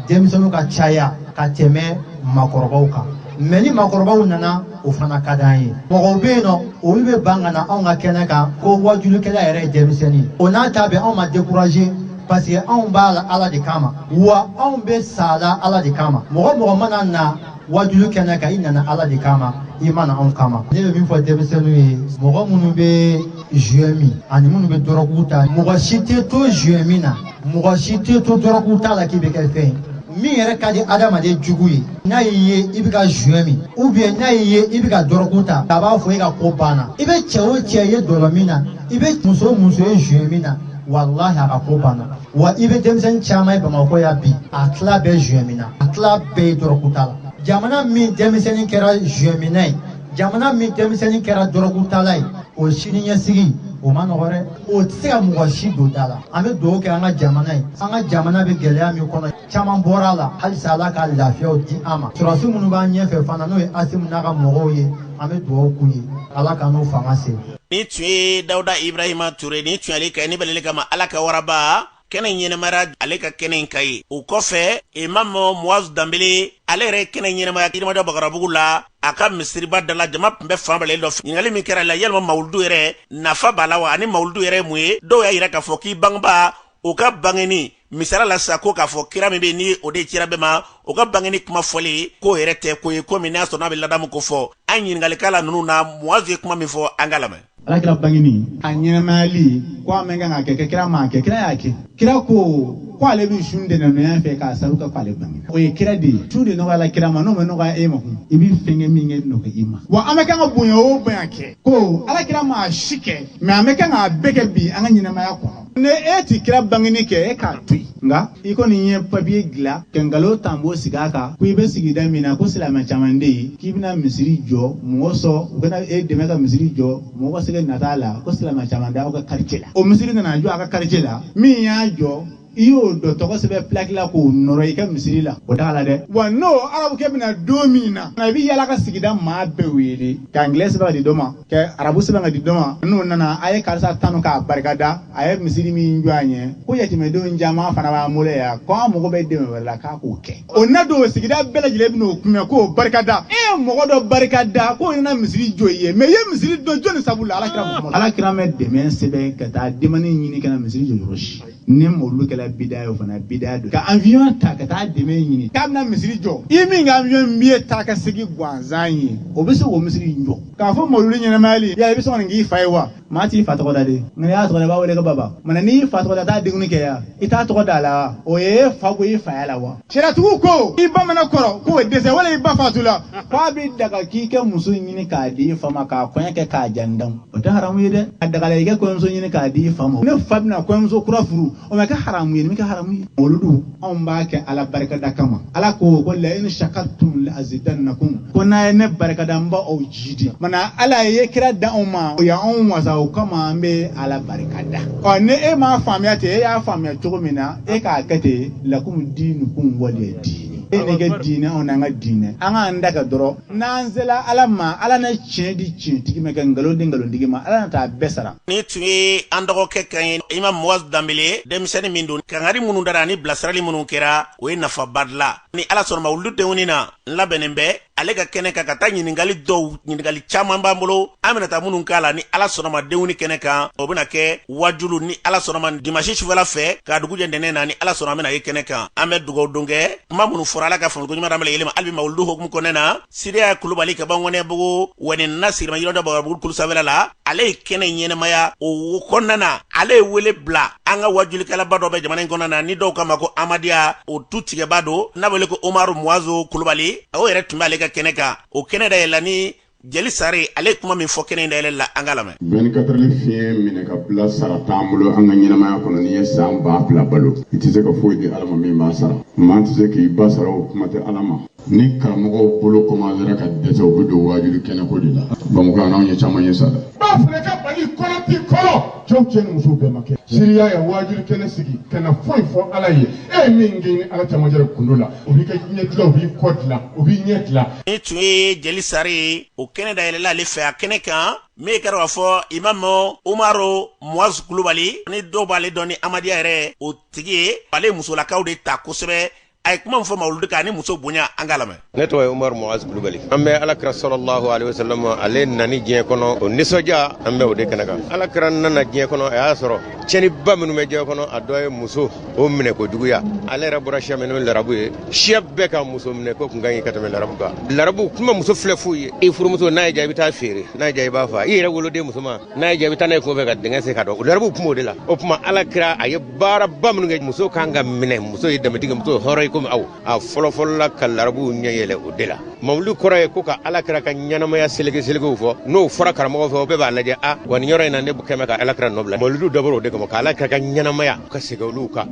denmisɛnninw ka caya ka tɛmɛ maakɔrɔbaw kan mɛ ni maakɔrɔbaw nana o fana ka d'an ye mɔgɔw bɛ yen nɔ olu bɛ ban ka na anw ka kɛnɛ kan ko wajulikɛla yɛrɛ ye denmisɛnnin o n'a ta bɛɛ anw ma découragé parce que anw b'a la ala de kama wa anw bɛ sa la ala de kama mɔgɔ o mɔgɔ mana na wajulu kɛnɛ kan i nana ala de kama i ma na anw kama ne bɛ min fɔ denmisɛnninw ye mɔgɔ minnu bɛ joint min ani minnu bɛ dɔrɔgu ta mɔgɔ si tɛ to joint min na mɔgɔ si tɛ to dɔrɔgu ta la k'i bɛ kɛ fɛn ye min yɛrɛ ka di adamaden jugu ye n'a y'i ye i bɛ ka joint min ou bien n'a y'i ye i bɛ ka dɔrɔgu ta a b'a fɔ e ka ko banna i bɛ cɛ o cɛ ye dɔlɔ min na i bɛ muso o muso ye joint min na walahi a ka ko banna wa i bɛ denmisɛnnin caman ye bamakɔ yan bi a tila bɛɛ joint minna a tila bɛɛ ye dɔrɔgutala jamana min denmisɛnnin kɛra joint minna ye jamana min denmisɛnnin kɛra dɔrɔgutala ye o sini ɲɛsigi o ma nɔgɔ dɛ o tɛ se ka mɔgɔ si don da la an bɛ dugawu kɛ an ka jamana ye an ka jamana bɛ gɛlɛya min kɔnɔ caman bɔra a la halisa ala ka lafiyaw di an ma sɔrɔdasi minnu b'an ɲɛfɛ fana n'o ye asimi n'a ka mɔgɔw ye an bɛ dugawu k'u ye ala ka n'u fanga se nin tun ye dawuda ibrahima ture nin tun ye ale ka ni balele kama ala ka waraba kɛnɛ ɲɛnamaya ale ka kɛnɛ in kan ye o kɔfɛ imamu moaz danbele ale yɛrɛ kɛnɛ ɲɛnamaya yirimajɔ bakarabugu la a ka misiriba da la jama tun bɛ fan bɛɛ dɔ ɲininkali min kɛra la yalima mawuludu yɛrɛ nafa b'a la wa ani mawuludu yɛrɛ mun ye dɔw y'a yira k'a fɔ k'i bangeba o ka bangeni misala la sa ko k'a fɔ kira min bɛ ni o de cira bɛɛ ma o ka bangeni kuma fɔli k'o yɛrɛ tɛ ko ye ko min n'a sɔrɔ n'a bɛ ladamu ko fɔ an ɲininkalikɛla ninnu na muwazu ye kuma min fɔ an k'a lamɛn alakira bangeni a ɲɛnamayali ko a man kan ka kɛ kɛ kira m'a kɛ kira y'a kɛ kira ko ko ale bɛ sun ntɛnɛnya fɛ k'a sabu kɛ ko ale bange o ye kira de ye sun de nɔgɔyala kira ma n'o ma nɔgɔya e ma kun i bɛ fɛn kɛ min kɛ nɔgɔya i ma wa an bɛ kan ka bonya o bonya kɛ ko ala kira m'a si kɛ mɛ an bɛ kan k'a bɛɛ kɛ bi an ka ɲɛnamaya kɔnɔ Ni e tɛ kira bangeni kɛ e k'a to yen nka i kɔni ye papiye dilan ka nkalon tampon sigi a kan ko i bɛ sigida min na ko silamɛ caman de ye k'i bɛna misiri jɔ mɔgɔ sɔn u bɛna e dɛmɛ ka misiri jɔ mɔgɔ sɛgɛ na t'a la ko silamɛ caman de aw ka quartier la o misiri nana jɔ a ka quartier la min y'a jɔ i y'o dɔ tɔgɔ sɛbɛn plaque la k'o nɔrɔ i ka misiri la o t'a la dɛ wa n'o arabukɛ bɛna don min na i bɛ yala ka sigida maa bɛɛ wele k'an gɛn saba de dɔ ma ka arabu sɛbɛn ka di dɔ ma n'o nana a ye karisa tanu k'a barikada a ye misiri min jɔ an ye ko yatimɛdenw caman fana b'an bolo yan ko an mago bɛ dɛmɛ wɛrɛ la k'a k'o kɛ o na don sigida bɛɛ lajɛlen bɛn'o kunbɛn k'o barikada e ye mɔgɔ dɔ barikada k'o nana misiri jɔ i ye mɛ i ye misiri dɔ jɔni sabu la alakira alakira ma dɛmɛ sɛbɛn ka taa dɛmɛni ɲini ka na misiri jɔ yɔrɔ si ni mawuludu kɛla bida ye o fana bida don ka avion ta ka taa dɛmɛ ɲini k'a bɛna misiri jɔ i min ka avion biye taa ka segin gansan ye o bɛ se k'o misiri in jɔ k'a fɔ mawuludu ɲɛnamayali yala i bɛ sɔn ka nin k'i fa ye wa maa t'i fa tɔgɔ da de nka n'i y'a tɔgɔ da i b'a wele ko baba mana n'i fa tɔgɔ da taa denkundi kɛ yan i t'a tɔgɔ da a la wa o ye fa ko i faya la wa Sariyatigiw ko i ba mana kɔrɔ ka dɛsɛ wala i ba faatu la k' a bɛ daga k'i ka muso ɲini k'a di i fa ma k'a kɔɲɔ kɛ k'a jan dan o tɛ haramu ye dɛ a dagala i ka kɔɲɔmuso ɲini k'a di i fa ma ne fa bɛna kɔɲɔmuso kura furu o ma kɛ haramu ye min kɛ haramu ye mawuludu anw b'a kɛ ala barikada kama ala ko ko la in shakartum la azidannakum ko n'a ye ne barikada n b' aw jiidi ma ala ye kira di anw ma o y' anw wasa o kama an bɛ ala barikada ɔ ni e m'a faamuya ten e y'a faamuya cogo min na e k'a kɛ ten lakum diinukum waliya diin e n'e ka diinɛ anw n'an ka diinɛ an k'an ta kɛ dɔrɔn n'an sela ala ma ala na tiɲɛ di tiɲɛtigi ma ka nkalon di nkalontigi ma ala na taa bɛɛ sara nin tun ye an dɔgɔkɛ kan ye imam muwazu danbele denmisɛnnin min don kangari minnu dara ni bilasirali minnu kɛra o ye nafaba dilan ni ala sɔnna mawuludu wɛni na n labɛnnen bɛ ale ka kɛnɛ kan ka taa ɲininkali dɔw ɲininkali caman b'an bolo an bɛna taa minnu k'a la ni ala sɔnna denw ni kɛnɛ kan o bɛna kɛ wajulu ni ala sɔnna dimasi sufɛla fɛ ka dugu jɛ ntɛnɛn na ni ala sɔnna an bɛna ye kɛnɛ kan an bɛ dugawu don kɛ kuma minnu fɔra ala ka faamuko ɲuman d'an bɛɛ lajɛlen ma hali bi mawuludu hukumu kɔnɔna na siriya kulubali ka bɔ ŋɔnɛbugu wɛni na sirima yɔrɔ dɔ bagabugu kulu sanfɛla la ale ye kɛnɛ ɲɛnamaya o kɔnɔna na ale ye wele bila an ka wajulikɛlaba dɔ bɛ jamana in kɔnɔna na ni dɔw k'a ma ko amadiya o tu tigɛba don n'a bɛ wele ko omaru muwazo kulubali o yɛrɛ tun b'ale ka kɛnɛ kan o kɛnɛ dayɛlɛla ni jeli sari ale ye kuma min fɔ kɛnɛ dayɛlɛ la an k'a lamɛn 24 fiɲɛ minɛ ka bila sara t'an bolo an ka ɲɛnamaya kɔnɔ n'i ye san ba fila balo i tɛ se ka foyi di ala ma min b'a sara maa tɛ se k'i ba sara o kuma tɛ ala ma ni karamɔgɔw bolo komansera ka dɛsɛ u bɛ don waajuli kɛnɛko de la bamakɔ anw ye caman ye sa dɛ ba fana ka mali kɔnɔ ti kɔrɔ cɛw cɛ ni musow bɛɛ ma kɛ siriya ye waajuli kɛnɛ sigi ka na foyi fɔ ala ye e ye min k'e ni ala camancɛ gundo la o b'i ka ɲɛ dilan o b'i kɔ dilan o b'i ɲɛ dilan nin tun ye jeli sari ye o kɛnɛ dayɛlɛla ale fɛ a kɛnɛ kan min kɛra k'a fɔ imamu umaru muwazu kulubali ni dɔw b'ale dɔn ni amadiya yɛrɛ o tigi ye ale musolakaw de ta kosɛbɛ a ye kuma min fɔ mawuludi kan ani muso bonya an k'a lamɛn ne tɔgɔ ye umar moaz kulubali an bɛ alakira salalahu alehi wasalam ale nani diɲɛ kɔnɔ o nisɔndiya an bɛ o de kɛnɛ kan alakira nana diɲɛ kɔnɔ a y'a sɔrɔ tiɲɛniba minnu bɛ diɲɛ kɔnɔ a dɔ ye muso o minɛ ko juguya ale yɛrɛ bɔra siya min n'o ye larabu ye siya bɛɛ ka muso minɛ ko kun ka ɲi ka tɛmɛ larabu kan larabu kun bɛ muso filɛ fu ye i furumuso n'a y'i diya i bɛ t'a feere n'a y'i diya i b'a faa i yɛrɛ woloden musoman n'a y'i diya i bɛ taa n'a ye kungo fɛ ka dingɛ sen k'a don o larabu kun bɛ o de la o tuma ala kira a ye baaraba minnu kɛ muso kan ka minɛ muso ye danbetigi muso hɔrɔn ye komi aw a fɔlɔfɔlɔla ka larabuw ɲɛ yɛlɛ o de la mawuli kɔrɔ ye ko ka ala kira ka ɲɛnamaya seleke selekew fɔ n'o fɔra karamɔgɔ fɛ o bɛɛ b'a lajɛ a wa nin yɔrɔ in na ne kɛmɛ ka ala kira nɔ bila mawulidu dabɔra o de kama ka ala kira ka ɲɛnamaya ka segin olu kan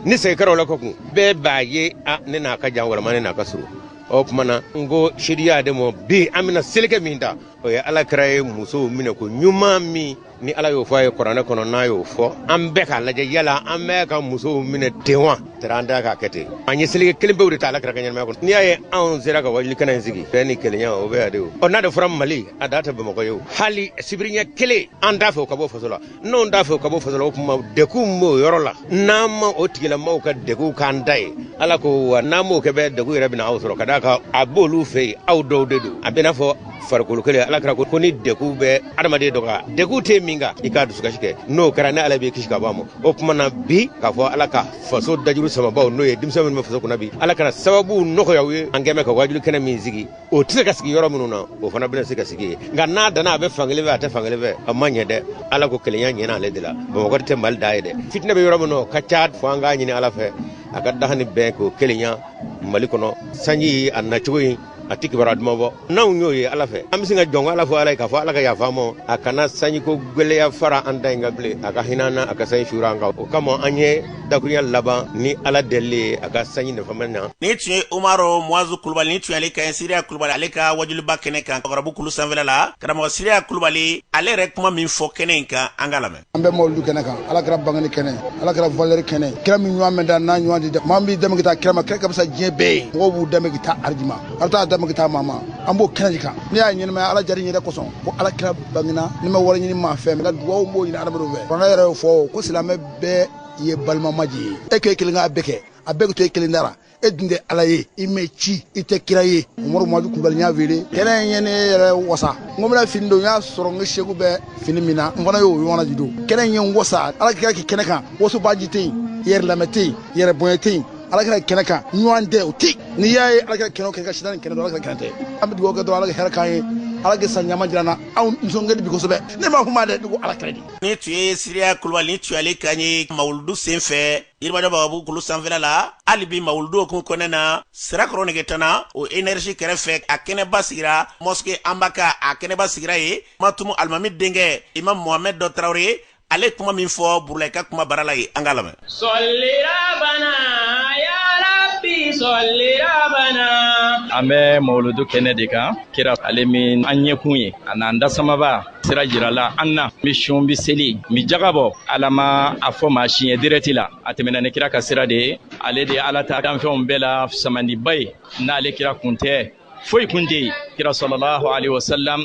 ni segin kɛra o la kɔkun bɛɛ b'a ye a ne n'a ka jan walama ne n'a ka surun o tuma na n ko siriya de ma bi an bɛna seleke min ta o ye ala kira ye musow minɛ ko ɲuman min ni ala y'o fɔ a ye kuranɛ kɔnɔ n'a y'o fɔ an bɛɛ k'a lajɛ yala an bɛ ka musow minɛ ten wa tari an tɛ k'a kɛ ten an ye seleke kelen pe de ta ala kira ka ɲɛnamaya kɔnɔ n'i y'a ye anw sera ka wajuli kɛnɛ in sigi bɛn ni kelenya o bɛ yan de o ɔ n'a de fɔra mali a dan tɛ bamakɔ ye o hali sibiriɲɛ kelen an t'a fɛ o ka bɔ faso la n'anw t'a fɛ ka bɔ faso la o tuma degun b'o yɔrɔ la n'an ma o tigilamɔgɔw ka degun k'an ta ye ala ko wa n'an m'o kɛ bɛɛ degun yɛrɛ bɛna aw sɔrɔ ka d'a kan a b'olu fɛ yen aw dɔw de don a bɛ n'a fɔ farikolo kelen ala kira ko ni degun bɛ adamaden dɔ kan degun tɛ min kan i k'a dusukasi kɛ n'o kɛra ne ala b'i kisi ka bɔ a ma o tuma na bi k'a fɔ ala ka faso dajuru samabaw n'o ye denmisɛn minnu bɛ faso kunna bi ala ka na sababu nɔgɔya u ye an kɛmɛ ka wajuli kɛnɛ min sigi o tɛ se ka sigi yɔrɔ minnu na o fana bɛna se ka sigi yen nka n'a danna a bɛ fankelen fɛ a tɛ fankelen fɛ a ma ɲɛ dɛ ala ko kelenya ɲɛna ale de la bamakɔ tɛ mali dan ye dɛ fitinɛ bɛ yɔrɔ min na o ka ca fo an k'a ɲini ala fɛ a ka daha ni bɛn k'o kelenya mali kɔnɔ sanji a nacogo in a tɛ kibaruya duman bɔ n'anw y'o ye ala fɛ an bɛ se ka jɔn ala fɔ ala ye k'a fɔ ala ka yafa an ma a kana sanjiko gɛlɛya fara an ta in kan bilen a ka hinɛ an na a ka sanji suuru an kan o kama an ye dakuruya laban ni ala deli ye a ka sanji nafama na nin tun ye umaru moazu kulubali nin tun y'ale kan ye siriya kulubali ale ka wajuliba kɛnɛ kan kɔrɔbu kulu sanfɛla la karamɔgɔ siriya kulubali ale yɛrɛ kuma min fɔ kɛnɛ in kan an k'a lamɛn an bɛ mawuludu kɛnɛ kan ala kira bangeni kɛnɛ ala kira valɛri kɛnɛ kira min ɲɔgɔn ma dan a ɲɔgɔn tɛ dan maa b'i dɛmɛ ka taa kira ma kira ka fisa diɲɛ bɛɛ ye mɔgɔw b'u dɛmɛ ka taa arijima ala t'a dɛmɛ ka taa maa ma an b'o kɛnɛ de kan ne y'a ɲɛnɛmaya ala jari yɛrɛ kosɔn ko ala kira bangena ne ma wari ɲini maa fɛ n bɛ dugawu de ɲini adamadenw fɛ fanga yɛrɛ y'o fɔ ko silamɛ bɛɛ ye balimama de ye e k'e kelen k'a bɛɛ kɛ a bɛɛ bɛ to e kelen da la e dun tɛ ala ye i ma ci i tɛ kira ye umaru moazu kulubali n y'a wele kɛnɛ in ye ne yɛrɛ wasa n ko n bɛna fini don n y'a sɔrɔ n ka seku bɛ fini min na n fana y'o ɲɔgɔnna de don kɛnɛ in ye n wasa ala kira ka kɛnɛ kan wasobaanci tɛ yen yɛrɛ lamɛn tɛ yen yɛrɛ bonya tɛ yen ala kira kɛnɛ kan ɲɔgɔn tɛ o tɛ yen n'i y'a ye ala kira kɛnɛ o kɛnɛ kan sitanɛ kɛnɛ don ala kira kɛnɛ tɛ an bɛ dugawu kɛ dɔrɔn ala ka hɛrɛ k'an ye ala ka san ɲuman jira an na anw nisɔn ka di bi kosɛbɛ ne ma kuma dɛ ne ko ala kira de nin tun ye siriya kulubali nin tun y'ale kan ye mawuludu sen fɛ yirimajɔ bagabugu kulu sanfɛla la hali bi mawuludu hukumu kɔnɔ na sirakɔrɔ negetana o energi kɛrɛfɛ a kɛnɛba sigira mɔske anbaka a kɛnɛba sigira ye matumu alimami denkɛ imam mohamɛd dɔ tarawele ale kuma min fɔ burulayi ka kumabara la ye an ka lamɛn an bɛ mawuludu kɛnɛ de kan kira ale min an ɲɛkun ye a n'an dasamaba sira jirala an na n bi sun bi seli n bi jaga bɔ ala ma a fɔ maa si ɲɛ dirɛti la a tɛmɛna ni kira ka sira de ye ale de ye ala ta danfɛnw bɛɛ la samandiba ye n'ale kira kun tɛ foyi kun tɛ yen kira salalahu alayhi wa salam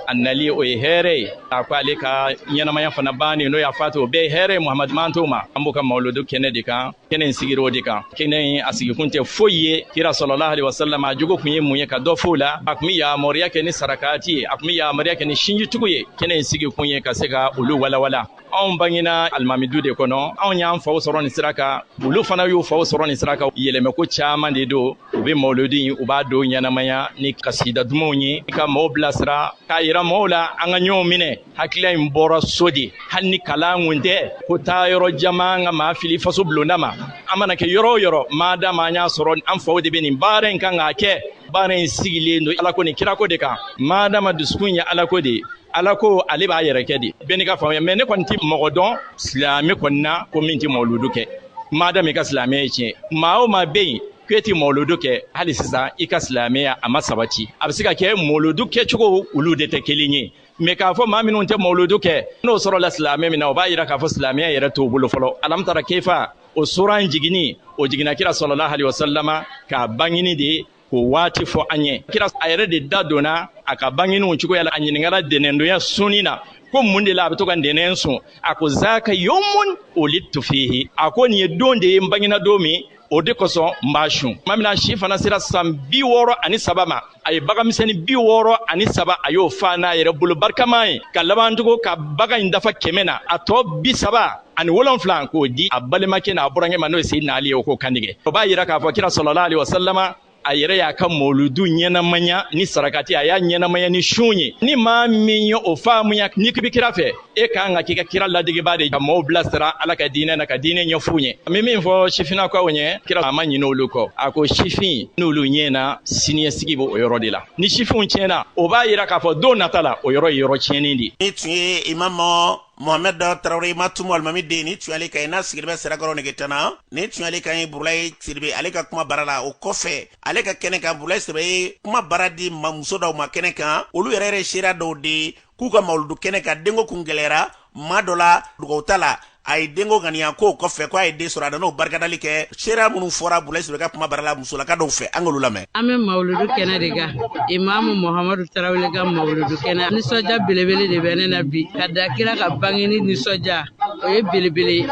a nali o ye hɛrɛ ye a ko ale ka ɲɛnamaya fana banni n'o y'a fatu o bɛɛ ye hɛrɛ ye muhamadu mantow ma an b'o ka mawuludu kɛnɛ de kan kɛnɛ in sigira o de kan kɛnɛ in a sigikun tɛ foyi ye kira salalahu alaihi wasallam a jogo kun ye mun ye ka dɔ f'o la a kun be yamariya kɛ ni sarakati ye a kun be yamariya kɛ ni sinjitugu ye kɛnɛ in sigikun ye ka se ka olu walawala anw bangena alimami du de kɔnɔ anw y'an faw sɔrɔ nin sira kan olu fana y'u faw sɔrɔ nin sira kan yɛlɛmɛko caaman de don u be mawuludu in u b'a don ɲɛnamaya ni kasida dumanw ye ka mɔgɔw bilasira k'a yira mɔgɔw la an ka ɲɔgɔn minɛ hakilila in bɔra so de hali ni kalan kun tɛ ko taayɔrɔ jan man ka maa fili faso bulonda ma an mana kɛ yɔrɔ o yɔrɔ madama an y'a sɔrɔ an faw de bɛ nin baara in kan k'a kɛ baara in sigilen don alako ni kirako de kan madama dusukun ye alako de ye alako ale b'a yɛrɛ kɛ de bɛɛ n'i ka faamuya mɛ ne kɔni tɛ mɔgɔ dɔn silamɛ kɔni na ko min tɛ mawuludu kɛ madama i ka silamɛya ye tiɲɛ maa o maa bɛ yen k'e tɛ mawuludu kɛ hali sisan i ka silamɛya a ma sabati a bɛ se ka kɛ mawuludu kɛcogo olu de tɛ kelen ye mɛ k'a fɔ maa minnu tɛ mawuludu kɛ n'o sɔrɔla silamɛ min na o b'a jira k'a fɔ silamɛya yɛrɛ t'o bolo fɔlɔ alamutara kefa o sura in jiginni o jiginna kira salala alayi wasalama ka bangini de k'o waati fɔ an ye kira a yɛrɛ de da donna a ka bangini o cogoya la a ɲininkara ntɛnɛndonya sunni na ko mun de la a bɛ to ka ntɛnɛn sun a ko zaka yomun ulidtu fihi a ko nin ye don de ye n bangina don min o de kosɔn n b'a sun tuma min na a si fana sera san bi wɔɔrɔ ani saba ma a ye baganmisɛnnin bi wɔɔrɔ ani saba a y'o fa n'a yɛrɛ bolo barikama ye ka laban tugun ka bagan in dafa kɛmɛ na a tɔ bi saba ani wolonfila k'o di a balimakɛ n'a burankɛ ma n'o ye seyidina ali ye o k'o kantigɛ o b'a jira k'a fɔ kira salala alayi wasalama a yɛrɛ y'a ka mɔludu ɲɛnamaya ni sarakati a y'a ɲɛnamaya ni sun ye ni maa min ye o faamuya n'i k'i bi kira fɛ e ka kan ka k'i ka kira ladegebaa de ka mɔɔw bilasira ala ka diinɛ na ka diinɛ ɲɛf'u ɲɛ n be min fɔ sifinnakaw ɲɛ kira a ma ɲinɛ olu kɔ a ko sifin n'olu ɲɛna siniɲɛsigi be o yɔrɔ de la ni sifinw tiɲɛna o b'a yira k'a fɔ don nata la o yɔrɔ ye yɔrɔ tiɲɛnin de ye nin tun ye imamu mohamɛd tarawele matumu alimami den nin tun y'ale kan ye n'a sigilen bɛ sirakɔrɔ negetana nin tun y'ale kan ye burulaye siribe ale ka kuma bara la o kɔfɛ ale ka kɛnɛ kan burulaye siribe ye kuma bara di ma muso dɔw ma kɛnɛ kan olu yɛrɛ yɛrɛ seereya dɔw de k'u ka mawuludu kɛnɛ kan denko kun gɛlɛyara maa dɔ la dugaw ta la a ye denko ŋaniya k'o kɔfɛ ko a ye den sɔrɔ a nan'o barikadali kɛ seereya minnu fɔra burulaye siribe ka kuma bara la musolaka dɔw fɛ an k'olu lamɛn an bɛ mawuludu kɛnɛ de kan imaamu muhamadu tarawele ka mawuludu kɛnɛ nisɔndiya belebele de bɛ ne na bi ka da kira ka bangeni nisɔndiya o ye belebele ye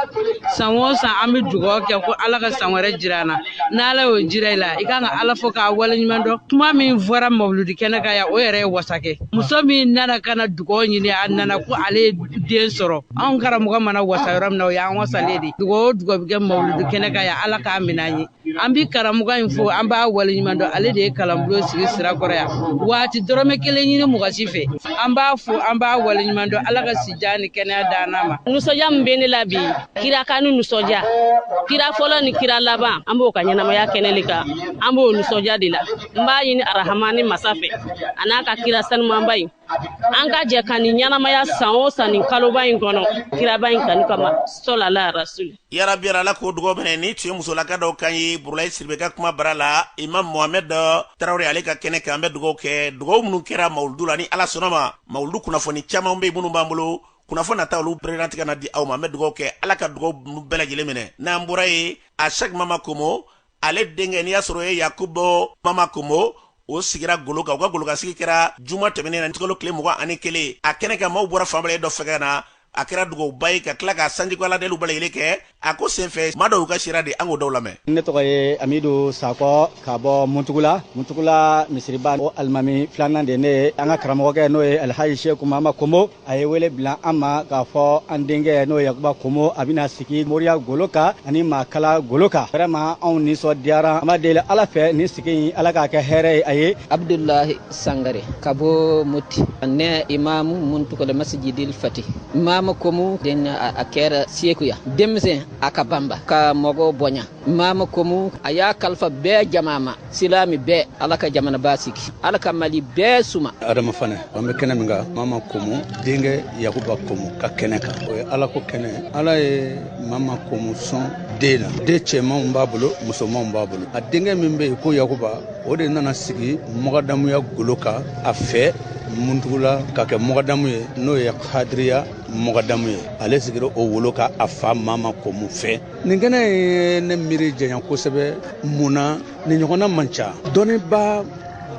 san o san an bɛ dugaw kɛ ko ala ka san wɛrɛ jira an na n'ala y'o jira i la i kan ka ala fo k'a waleɲuman dɔn kuma min fɔra mawuludi kɛnɛ kan yan o yɛrɛ ye wasa kɛ muso min nana ka na dugaw ɲini a nana ko ale ye den sɔrɔ anw karamɔgɔ mana wasa yɔrɔ min na o y'an wasalen de dugaw o dugaw bɛ kɛ mawuludi kɛnɛ kan yan ala k'a minɛ an ye an bi karamɔgɔ in fo an b'a waleɲuman dɔn ale de ye kalanbulon sigi sirakɔrɔ yan wa a ti dɔrɔmɛ kelen ɲini mɔgɔ si fɛ an b'a fo an b'a waleɲuman dɔn ala ka sijan ni kɛnɛya d'an n'a ma nisɔndiya min bɛ ne la bi kira kanu nisɔndiya kira fɔlɔ ni kira laban an b'o ka ɲɛnamaya kɛnɛ le kan an b'o nisɔndiya de la n b'a ɲini arahamani masa fɛ a n'a ka kira sanumanba in an ka jɛ ka nin ɲɛnamaya san o san nin kaloba in kɔnɔ kiraba in kanu kama sɔlala rasuli yarabi ya ala k'o dugaw minɛ nin tun ye musolaka dɔw kan ye burulayi siribe ka kuma bara la imam mohamɛd tarawele ale ka kɛnɛ kan an bɛ dugaw kɛ dugaw minnu kɛra mawuludu la ni ala sɔnn'a ma mawuludu kunnafoni caman bɛ minnu b'an bolo kunnafoni nata olu bɛna tila ka na di aw ma an bɛ dugaw kɛ ala ka dugaw bɛɛ lajɛlen minɛ n'an bɔra yen a shɛki mama komo ale denkɛ n'i y'a sɔrɔ o ye yakuba mama komo o sigira golo kan u ka golokansigi kɛra juma tɛmɛnen na utikalo tile mugan ani kelen a kɛnɛ kan maaw bɔra fan bɛɛ lajɛlen dɔ fɛ ka na a kɛra dugawuba ye ka tila ka sanjiko aladeliw bɛɛ lajɛlen kɛ a ko senfɛ maa dɔw y'u ka seereya di an k'o dɔw lamɛn ne tɔgɔ ye amidu sakɔ ka bɔ muntugula muntugula misiriba o alimami filanan de ne ye an ka karamɔgɔkɛ n'o ye alhaji sheku mama komo a ye wele bila an ma k'a fɔ an denkɛ n'o ye yakuba komo a bɛna sigi moriya golo kan ani maakala golo kan vraiment anw nisɔndiyara an b'a deli ala fɛ nin sigi in ala k'a kɛ hɛrɛ ye a ye abdulahi sangare ka bɔ moti ne imamu muntugula masijidil fati mama komu den a kɛra sekuya denmisɛn a ka banba ka mɔgɔ bonya mama komu a y'a kalifa bɛɛ jama ma silami bɛɛ ala ka jamana basigi ala ka mali bɛɛ suma adama fanɛ an bɛ kɛnɛ min kan mama komu denkɛ yakuba komu ka kɛnɛ kan o ye alako kɛnɛ ala ye mama komu sɔn den na den cɛmanw b'a bolo musomanw b'a bolo a denkɛ min bɛ yen ko yakuba o de nana sigi mɔgɔdamuya golo kan a fɛ muntugula ka kɛ mɔgɔdamu ye n'o ye hadiriya mɔgɔdamu ye ale sigira o wolo kan a fa mama komu fɛ nin kɛnɛ ye ne miiri janya kosɛbɛ mun na nin ɲɔgɔnna man ca dɔnnibaa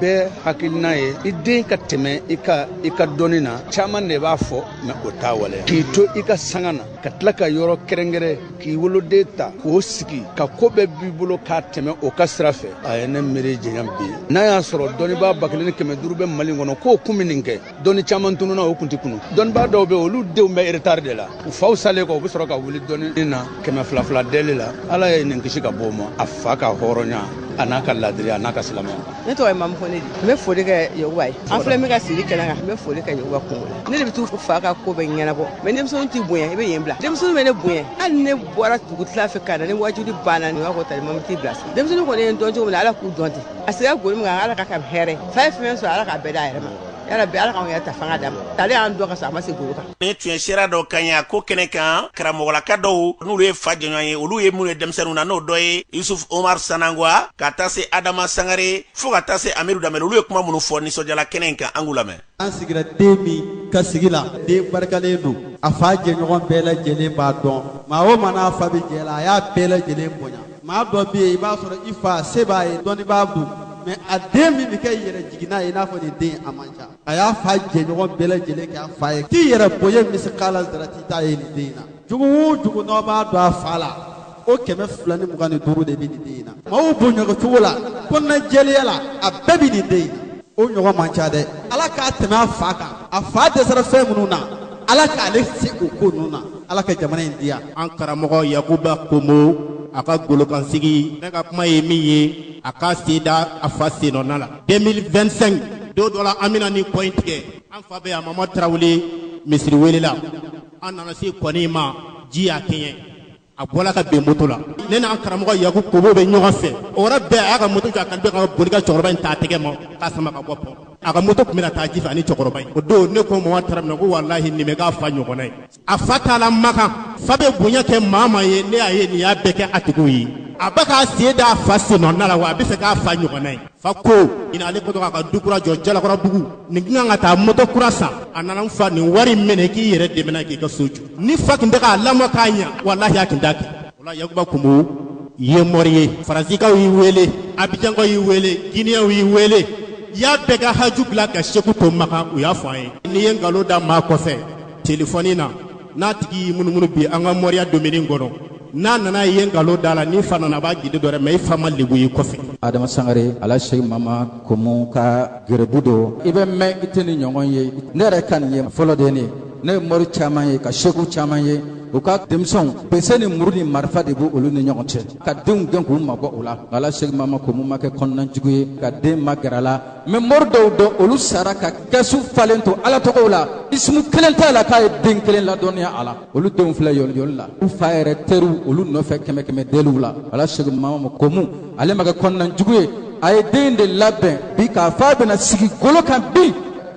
bɛɛ hakilina ye i den ka tɛmɛ i kan i ka dɔnni na caaman de b'a fɔ mɛ o t'a waleya k'i to i ka sanga na ka tila ka yɔrɔ kɛrɛnkɛrɛn k'i woloden ta k'o sigi ka ko bɛɛ b'i bolo k'a tɛmɛ o ka sira fɛ a ye ne miiri janya bi n'a y'a sɔrɔ dɔnnibaa ba kelen ni kɛmɛ duuru bɛ mali kɔnɔ k'o kun bɛ nin kɛ dɔnni caman tununa o kun tɛ tunu dɔnnibaa dɔw bɛ olu denw bɛ eretari de la u faw salen kɔ u bɛ sɔrɔ ka wuli dɔnni na kɛmɛ fila fila deli la ala ye nin kisi ka bɔ o ma a fa ka hɔrɔnya a n'a ka ladiriya a n'a ka silamɛya ne tɔgɔ ye mamu fone n bɛ foli kɛ yakuba ye an filɛ min ka sigi kɛnɛ kan n bɛ foli kɛ yakuba kunko la ne de bɛ t'u fa ka ko bɛ ɲɛnabɔ mɛ denmisɛnninw t'i bonya i bɛ yen bila denmisɛnninw bɛ ne bonya hali ne bɔra dugutila fɛ ka na ni waajuli banna nin b'a fɔ tali mamu t'i bila denmisɛnninw kɔni ye n dɔn cogo min na ala k'u dɔn ten a sigira golo min kan ala ka ka hɛrɛ fa ye fɛn sɔrɔ ala k'a bɛɛ d'a yɛrɛ ma yarabi ala k'anw yɛrɛ ta fanga d'a ma tale y'an dɔn ka sɔrɔ a ma se golo kan nin tun ye seere dɔ kan y'a ko kɛnɛ kan karamɔgɔlaka dɔw n'olu ye fa jɛɲɔgɔn ye olu ye minnu ye denmisɛnnin na n'o dɔ ye yusuf omar sanangwa ka taa se adama sangare fo ka taa se amiru damɛl olu ye kuma minnu fɔ nisɔndiyala kɛnɛ in kan an k'u lamɛn an sigira den min ka sigi la den barikalen don a fa jɛɲɔgɔn bɛɛ lajɛlen b'a dɔn maa o maa n'a fa bɛ jɛ la a y'a bɛɛ lajɛlen bonya maa dɔ bɛ yen i b'a sɔrɔ i fa se b'a ye dɔnnibaa don mɛ a den min bɛ kɛ yɛrɛ jiginna ye i n'a fɔ nin den a man ca a y'a fa jɛɲɔgɔn bɛɛ lajɛlen kɛ a fa ye k'i yɛrɛ bonya misikala zarati t'a ye nin den in na jogo o jogo n'aw b'a dɔn a fa la o kɛmɛ fila ni mugan ni duuru de bɛ nin den in na maaw bonya cogo la kɔnɔna jɛya la a bɛɛ bɛ nin den in na o ɲɔgɔn man ca dɛ ala k'a tɛmɛ a fa kan a fa dɛsɛra fɛn minnu na ala k'ale se o ko ninnu na ala ka jamana in diya an karamɔgɔ yakuba komo a ka golokansigi ne ka kuma ye min ye a k'a sen da a fa sennɔna la 2025 don dɔ la an bɛna nin kɔ in tigɛ an fa bɛ yan mama tarawele misiri wele la an nana se kɔnin ma ji y'a kɛɲɛ a bɔla ka ben moto la ne n'an karamɔgɔ yakuba komo bɛ ɲɔgɔn fɛ o yɔrɔ bɛɛ a y'a ka moto jɔ a kan bɛ ka boli ka cɛkɔrɔba in ta tɛgɛ ma k'a sama ka bɔ pɔn a ka moto tun bɛna taa ji fɛ ani cɛkɔrɔba in o don ne ko mama tarawele ko walahi nin bɛ k'a fa ɲɔgɔnna ye a fa t'a la makan fa bɛ bonya kɛ maa o maa ye ne y'a ye nin y'a bɛɛ kɛ a tigiw ye a bɛ k'a sen d'a fa sennɔna la wa a bɛ fɛ k'a fa ɲɔgɔnna ye fa ko ɲina ale kɛtɔ k'a ka du kura jɔ jalakɔrɔbugu nin tun kan ka taa moto kura san a nana n fa nin wari minɛ k'i yɛrɛ dɛmɛ n'a k'i ka so jɔ ni fa tun tɛ k'a lamɔ k'a ɲa walahi a tun t'a kɛ o la yakuba komo i ye mɔri ye faransikaw y'i wele abijankaw y'i wele giniyɛnw y'i wele i y'a bɛɛ ka haju bila ka seku to makan u y'a fɔ an ye n'i ye nkalon da maa kɔfɛ telefɔni na n'a tigi y'i munumunu bi an ka mɔriya domini kɔnɔ n'a nana ye nkalon da la n'i fa nana b'a gidi dɔ dɛ mɛ i fa ma lebu y'i kɔfɛ adama sangare ala seku mama komu ka gɛrɛbu don i bɛ mɛn i tɛ ni ɲɔgɔn ye ne yɛrɛ ka nin ye fɔlɔ de ne ne ye mɔri caman ye ka seku caman ye u ka denmisɛnw bese ni muru ni marifa de b'u olu ni ɲɔgɔn cɛ ka denw gɛn k'u mabɔ o la ala seku mama komu ma kɛ kɔnɔnajugu ye ka den magɛrɛ a la mɛ mɔri dɔw dɔn olu sara ka kɛsu falen to ala tɔgɔw la isimu kelen t'a la k'a ye den kelen ladɔnniya a la olu denw filɛ yɔliyɔli la u fa yɛrɛ teriw olu nɔfɛ kɛmɛ kɛmɛ deliw la ala seku mamama komu ale ma kɛ kɔnɔnajugu ye a ye den de labɛn bi k'a fɔ a bɛna sigi golo kan bi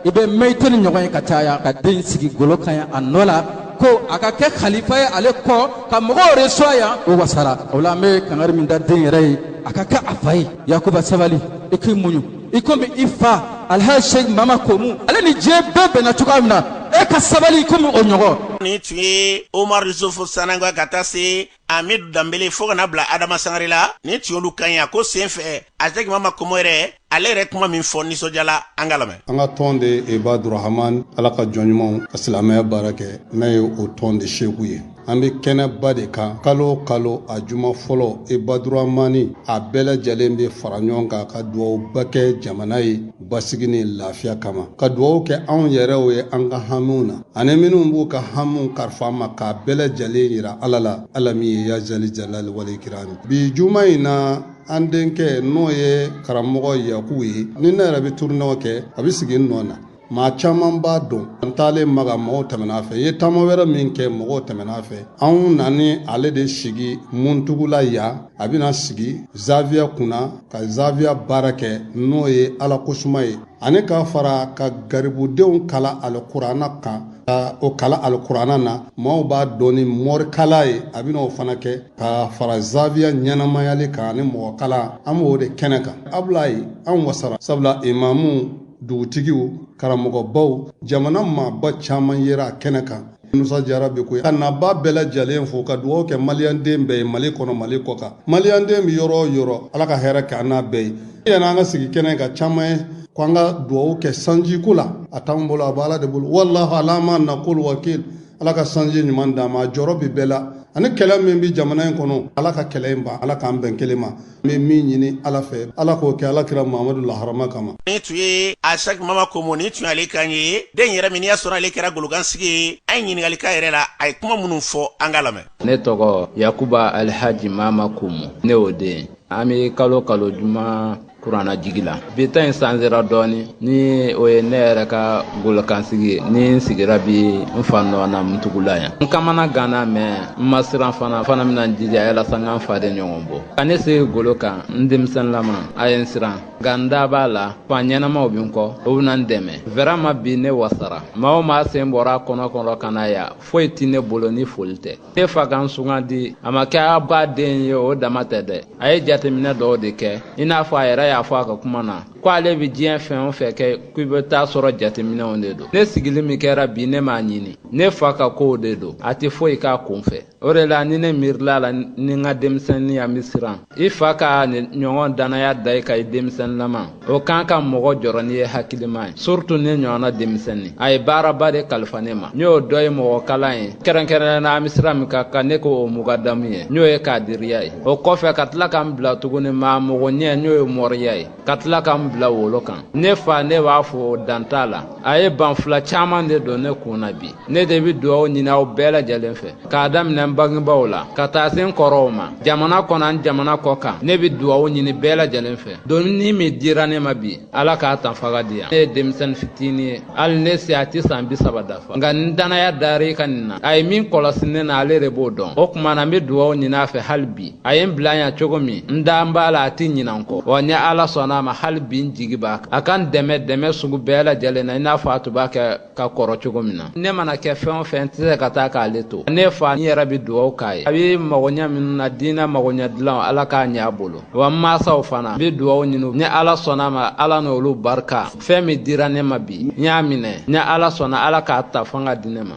i bɛ mɛn i tɛ ni ɲɔgɔn ye ka caya ka den sigi golo kan ye a nɔ la ko a ka kɛ kalifa ye ale kɔ ka mɔgɔw resuwa yan o wasara o la an bɛ kangari min da den yɛrɛ ye a ka kɛ a fa ye yakuba sabali i k'i muɲu i komi i fa alhaji sheikh mama komu ale ni diɲɛ bɛɛ bɛnna cogoya min na e ka sabali komi o ɲɔgɔn nin tun ye omar yusufu sanangwa ka taa se amidu danbele fo ka na bila adama sangare la nin tun y'olu kan ye a ko sen fɛ asɛki mama komo yɛrɛ ale yɛrɛ kuma min fɔ nisɔndiya la an ka lamɛn an ka tɔn de ibadurahaman ala ka jɔn ɲumanw ka silamɛya baara kɛ ne ye o tɔn de seku ye an bɛ kɛnɛba de kan kalo o kalo a juma fɔlɔ ibaduramani a bɛɛ lajɛlen bɛ fara ɲɔgɔn kan ka dugawuba kɛ jamana ye basigi ni lafiya kama ka dugawu kɛ anw yɛrɛw ye an ka hamiw na ani minnu b'u ka hamiw kalifa an ma k'a bɛɛ lajɛlen jira ala la ala min ye ya zali jalali wali ikirami bi juma in na an denkɛ n'o ye karamɔgɔ yakuba ye ni ne yɛrɛ bɛ turunɛw kɛ a bɛ sigi n nɔ na maa caman b'a dɔn an taalen maka mɔgɔw tɛmɛna a fɛ n ye taama wɛrɛ min kɛ mɔgɔw tɛmɛna a fɛ anw nani ale de sigi muntugula yan a bɛna sigi zawiya kunna ka zawiya baara kɛ n'o ye ala kosuma ye ani k'a fara ka garibudenw kalan alikuranna kan ka u kalan alikuranna na maaw b'a dɔn ni mɔrikalan ye a bɛna o fana kɛ ka fara zawiya ɲɛnamayali kan ani mɔgɔ kalan an b'o de kɛnɛ kan abulayi an wasara sabula imamu dugutigiw karamɔgɔbaw jamana maaba caman yera a kɛnɛ kan musa jara bɛ ko a nabaa bɛɛ lajɛlen fo ka dugawu kɛ maliyanden bɛɛ ye mali kɔnɔ mali kɔ kan maliyanden bɛ yɔrɔ o yɔrɔ ala ka hɛrɛ kɛ an n'a bɛɛ ye yanni an ka sigi kɛnɛ kan caman ye ko an ka dugawu kɛ sanji ko la a t'an bolo a bɛ ala de bolo walahu ala ma nakulu wakil ala ka sanji ɲuman d'an ma a jɔrɔ bɛ bɛɛ la ani kɛlɛ min bɛ jamana in kɔnɔ ala ka kɛlɛ in ban ala k'an bɛn kelen ma N bɛ min ɲini ala fɛ ala k'o kɛ ala kira mamadu la harama kama nin tun ye asɛki mama komu nin tun y'ale kan ye den yɛrɛ min y'a sɔrɔ ale kɛra golokansigi ye an ye ɲininkali k'a yɛrɛ la a ye kuma minnu fɔ an ka lamɛn ne tɔgɔ yakuba alihaji mama komu ne y'o den an bɛ kalo kalo juma kuranna jigin la bi ta in sanzera dɔɔni ni o ye ne yɛrɛ ka golokansigi ye ni n sigira bi n fa nɔ na muntugula yan n kamana ganna mɛ n ma siran fana fana bɛna n jija yalasa n ka n faden ɲɔgɔn bɔ ka ne sigi golo kan n denmisɛnlama a ye n siran nka n da b'a la fa ɲɛnamaw bɛ n kɔ u bɛna n dɛmɛ vraiment bi ne wasara maa o maa sen bɔra a kɔnɔ kɔnɔ ka na yan foyi tɛ ne bolo ni foli tɛ ne fa ka n sugandi a ma kɛ a ba den ye o dama tɛ dɛ a ye jateminɛ dɔw de kɛ i n'a fɔ a yɛrɛ y'a fɔ a ka kuma na ko ale bɛ diɲɛ fɛn o fɛn kɛ k'i bɛ t'a sɔrɔ jateminɛw de don ne sigili min kɛra bi ne m'a ɲini ne fa ka kow de don a tɛ foyi k'a kun fɛ o de la ni ne miirila la ni n ka denmisɛnninya n bɛ siran i fa ka nin ɲɔgɔn dannaya da i kan i denmisɛnlama o kan ka mɔgɔ jɔrɔ n'i ye hakilima ye surtout ne ɲɔgɔnna denmisɛnnin a ye baaraba de kalifa ne ma n'o dɔ ye mɔgɔ kalan ye kɛrɛnkɛrɛnnenya an bɛ sira min kan ka ne k'o mugadamu ye n'o ye kadiriya ye o kɔfɛ ka tila ka n bila tuguni maa mɔgɔ ɲɛ n'o ye mɔriya ye ka tila ka n bila wolo kan ne fa ne b'a fɔ dan t'a la a ye ban fila caman de don ne kun na bi ne de bɛ dugaw ɲini aw bɛɛ lajɛlen fɛ k'a daminɛ n bangebaaw la ka taa se n kɔrɔw ma jamana kɔnɔ ani jamana kɔ kan ne bɛ dugaw ɲini bɛɛ lajɛlen fɛ doni min dira ne ma bi ala k'a ta fanga di yan ne ye denmisɛnnin fitinin ye hali ne si a tɛ san bi saba dafa nka ni dannaya dara i kan nin na a ye min kɔlɔsi ne na ale de b'o dɔn o tuma na n bɛ dugaw ɲini a fɛ hali bi a ye n bila yan cogo min n da b'a la a tɛ ɲina n kɔ wa ni ala sɔnna a ma hali bi n jigi b'a kan a ka n dɛmɛ dɛmɛ sugu bɛɛ lajɛlen na i n'a fɔ a tun b'a kɛ ka kɔrɔ cogo min na ne mana kɛ fɛn o fɛn n tɛ se ka taa k'ale to ne fa n yɛrɛ bɛ dugaw k'a ye a bɛ magoɲɛ minnu na diinɛ magoɲɛ dilan ala k'a ɲɛ a bolo wa n mansaw fana n bɛ dugaw ɲini ni ala sɔnna a ma ala n'olu barika fɛn min dira ne ma bi n y'a minɛ ni ala sɔnna ala k'a ta fanga di ne ma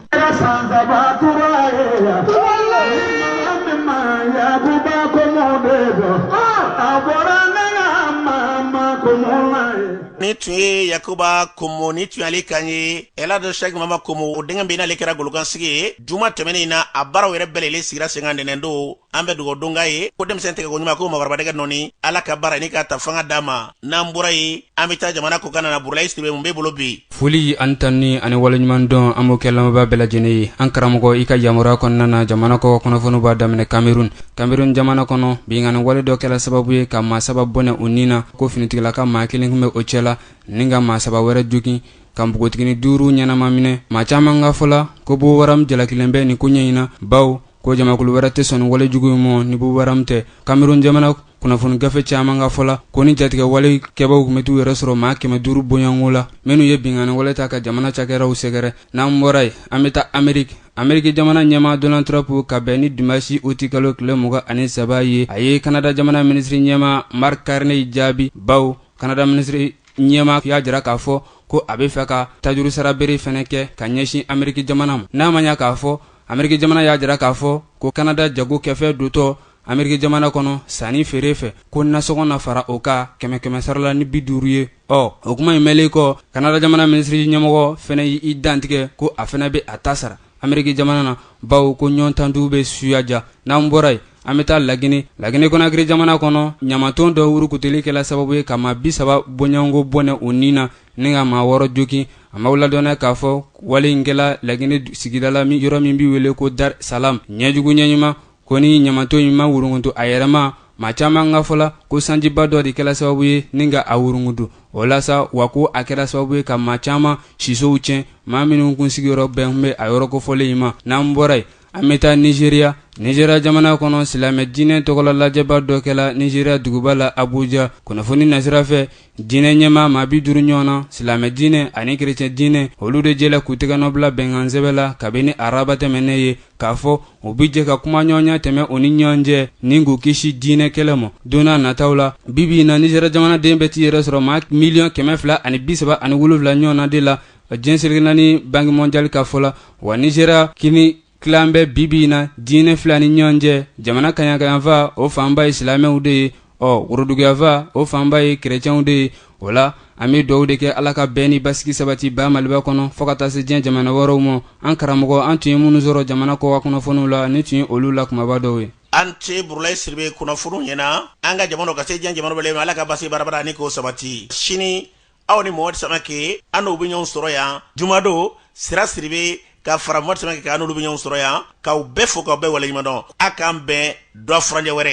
nin tun ye yakuba komo nin tun y'ale kan ye ɛlaji sɛki mama komo o denkɛ bɛ n'ale kɛra golokansigi ye juma tɛmɛnen in na a baaraw yɛrɛ bɛɛ lajɛlen sigira sen kan ntɛnɛndon an bɛ dugaw don k'a ye ko denmisɛn tɛgɛ ko ɲuman ko mɔgɔkɔrɔba dɛgɛ nɔɔni ala ka baara nin k'a ta fanga d'a ma n'an bɔra yen an bɛ taa jamana kɔ kan na burulayi sidibe mun b'i bolo bi foli ani tanuni ani waleɲuman dɔn an b'o kɛ lamɛnbaa bɛɛ lajɛlen ye an karamɔgɔ i ka yamaruya kɔnɔna na jamana kɔ kunnafoniw b'a daminɛ kamerun kamerun jamana kɔnɔ binkanni wale dɔ kɛra sababu ye ka maa saba bɔnɛ u ni na ko finitigilaka maa kelen tun bɛ o cɛ la ni ka maa saba wɛrɛ jogin ka npogotigini duuru ɲɛnama minɛ maa caman ka fɔ la ko boko haram jalakilen bɛ nin koɲɛ in na bawo ko jamakulu wɛrɛ tɛ sɔn wale jugu in ma ni boko haram tɛ kamerun jamana kunnafoni gafe caman ka fɔla ko nin jatigɛwale kɛbaaw tun bɛ t'u yɛrɛ sɔrɔ maa kɛmɛ duuru bɔɲɔgɔnko la minnu ye binkanni wale ta ka jamana cakɛraw sɛgɛrɛ n'an bɔra yen an bɛ taa ameriki ameriki jamana ɲɛmaa donald trump ka bɛn ni dimasi uti kalo tile mugan ani saba ye a ye kanada jamana minisiri ɲɛmaa mark carney jaabi bawo kanada minisiri ɲɛmaa y'a jira k'a fɔ ko a bɛ fɛ ka tajuru sara bɛrɛ fɛnɛ kɛ ka ɲɛsin ameriki jamana ma n'a ma ɲa k'a fɔ Ameriki jamana y'a jira k'a fɔ ko Canada jago kɛfɛn dontɔ Ameriki jamana kɔnɔ sanni feere fɛ ko nasɔngɔ na fara o kan kɛmɛ kɛmɛ sara la ni bi duuru ye. Ɔ o kuma in mɛnlen kɔ, Canada jamana minisiri ɲɛmɔgɔ fana y'i dantigɛ ko a fana bɛ a ta sara Ameriki jamana na bawo ko ɲɔgɔn ta dun bɛ suya diya. N'an bɔra yen, an bɛ taa La Guinee. La Guinee Conakry jamana kɔnɔ, ɲamanton dɔ wurukutuli kɛla sababu ye ka maa 30 bɔɲɔgɔnko bɔnɛ u ni na ni ka maa wɔɔrɔ jogin an b'aw ladɔnniya k'a fɔ wale in kɛla lagine sigida la yɔrɔ min bɛ wele ko dar salam ɲɛjugu ɲɛɲuman kɔni ɲamaton in ma wurungutu a yɛrɛma maa caman ka fɔla ko sanjiba dɔ de kɛla sababu ye ni ka a wurungutu o la sa wa ko a kɛra sababu ye ka maa caman sisow tiɲɛ maa minnu kun sigiyɔrɔ bɛn tun bɛ a yɔrɔ kofɔlen in ma n'an bɔra yen an bɛ taa nizeriya nizeriya jamana kɔnɔ silamɛ diinɛ tɔgɔla lajɛba dɔ kɛla nizeriya duguba la abuja kunnafoni nasira fɛ diinɛ ɲɛmaa maa bi duuru ɲɔgɔn na silamɛ diinɛ ani kerecɛn diinɛ olu de jɛla k'u tɛgɛnɔ bila bɛnkansɛbɛn la kabini araba tɛmɛnen ye k'a fɔ u bi jɛ ka kumaɲɔgɔnya tɛmɛ u ni ɲɔgɔn cɛ ni k'u kisi diinɛ kɛlɛ ma don n'a nataw la bibi in na nizeriya jamanaden bɛ t'i yɛrɛ sɔrɔ maa miliyɔn kɛmɛ fila ani bi saba ani wolonwula ɲɔgɔn na de la diɲɛ seleke naani banki mɔndiyali ka fɔ la wa nizeriya kɔni tilalen bɛ bibi in na diinɛ fila ni ɲɔgɔn cɛ jamana kaɲakayanfan o fanba ye silamɛw de ye ɔ woroduguyanfan o fanba ye kerecɛnw de ye o la an bɛ dugawu de kɛ ala ka bɛn ni basigi sabati ba maliba kɔnɔ fo ka taa se diɲɛ jamana wɛrɛw ma an karamɔgɔ an tun ye minnu sɔrɔ jamana kɔkan kunnafoniw la nin tun ye olu la kumaba dɔw ye an tɛ burulayi siribe kunnafoniw ɲɛna an ka jamana ka se diɲɛ jamana bɛɛ ma ala ka basigi barabara ani k'o sabati sini aw ni mohamɛdi samake aw n'o bɛ ɲɔgɔn sɔrɔ yan jumadon sira siribe ka fara mohamɛdi samake kan aw n'olu bɛ ɲɔgɔn sɔrɔ yan k'aw bɛɛ fo k'aw bɛɛ waleɲumandɔn a k'an bɛn dɔgɔ furancɛ wɛrɛ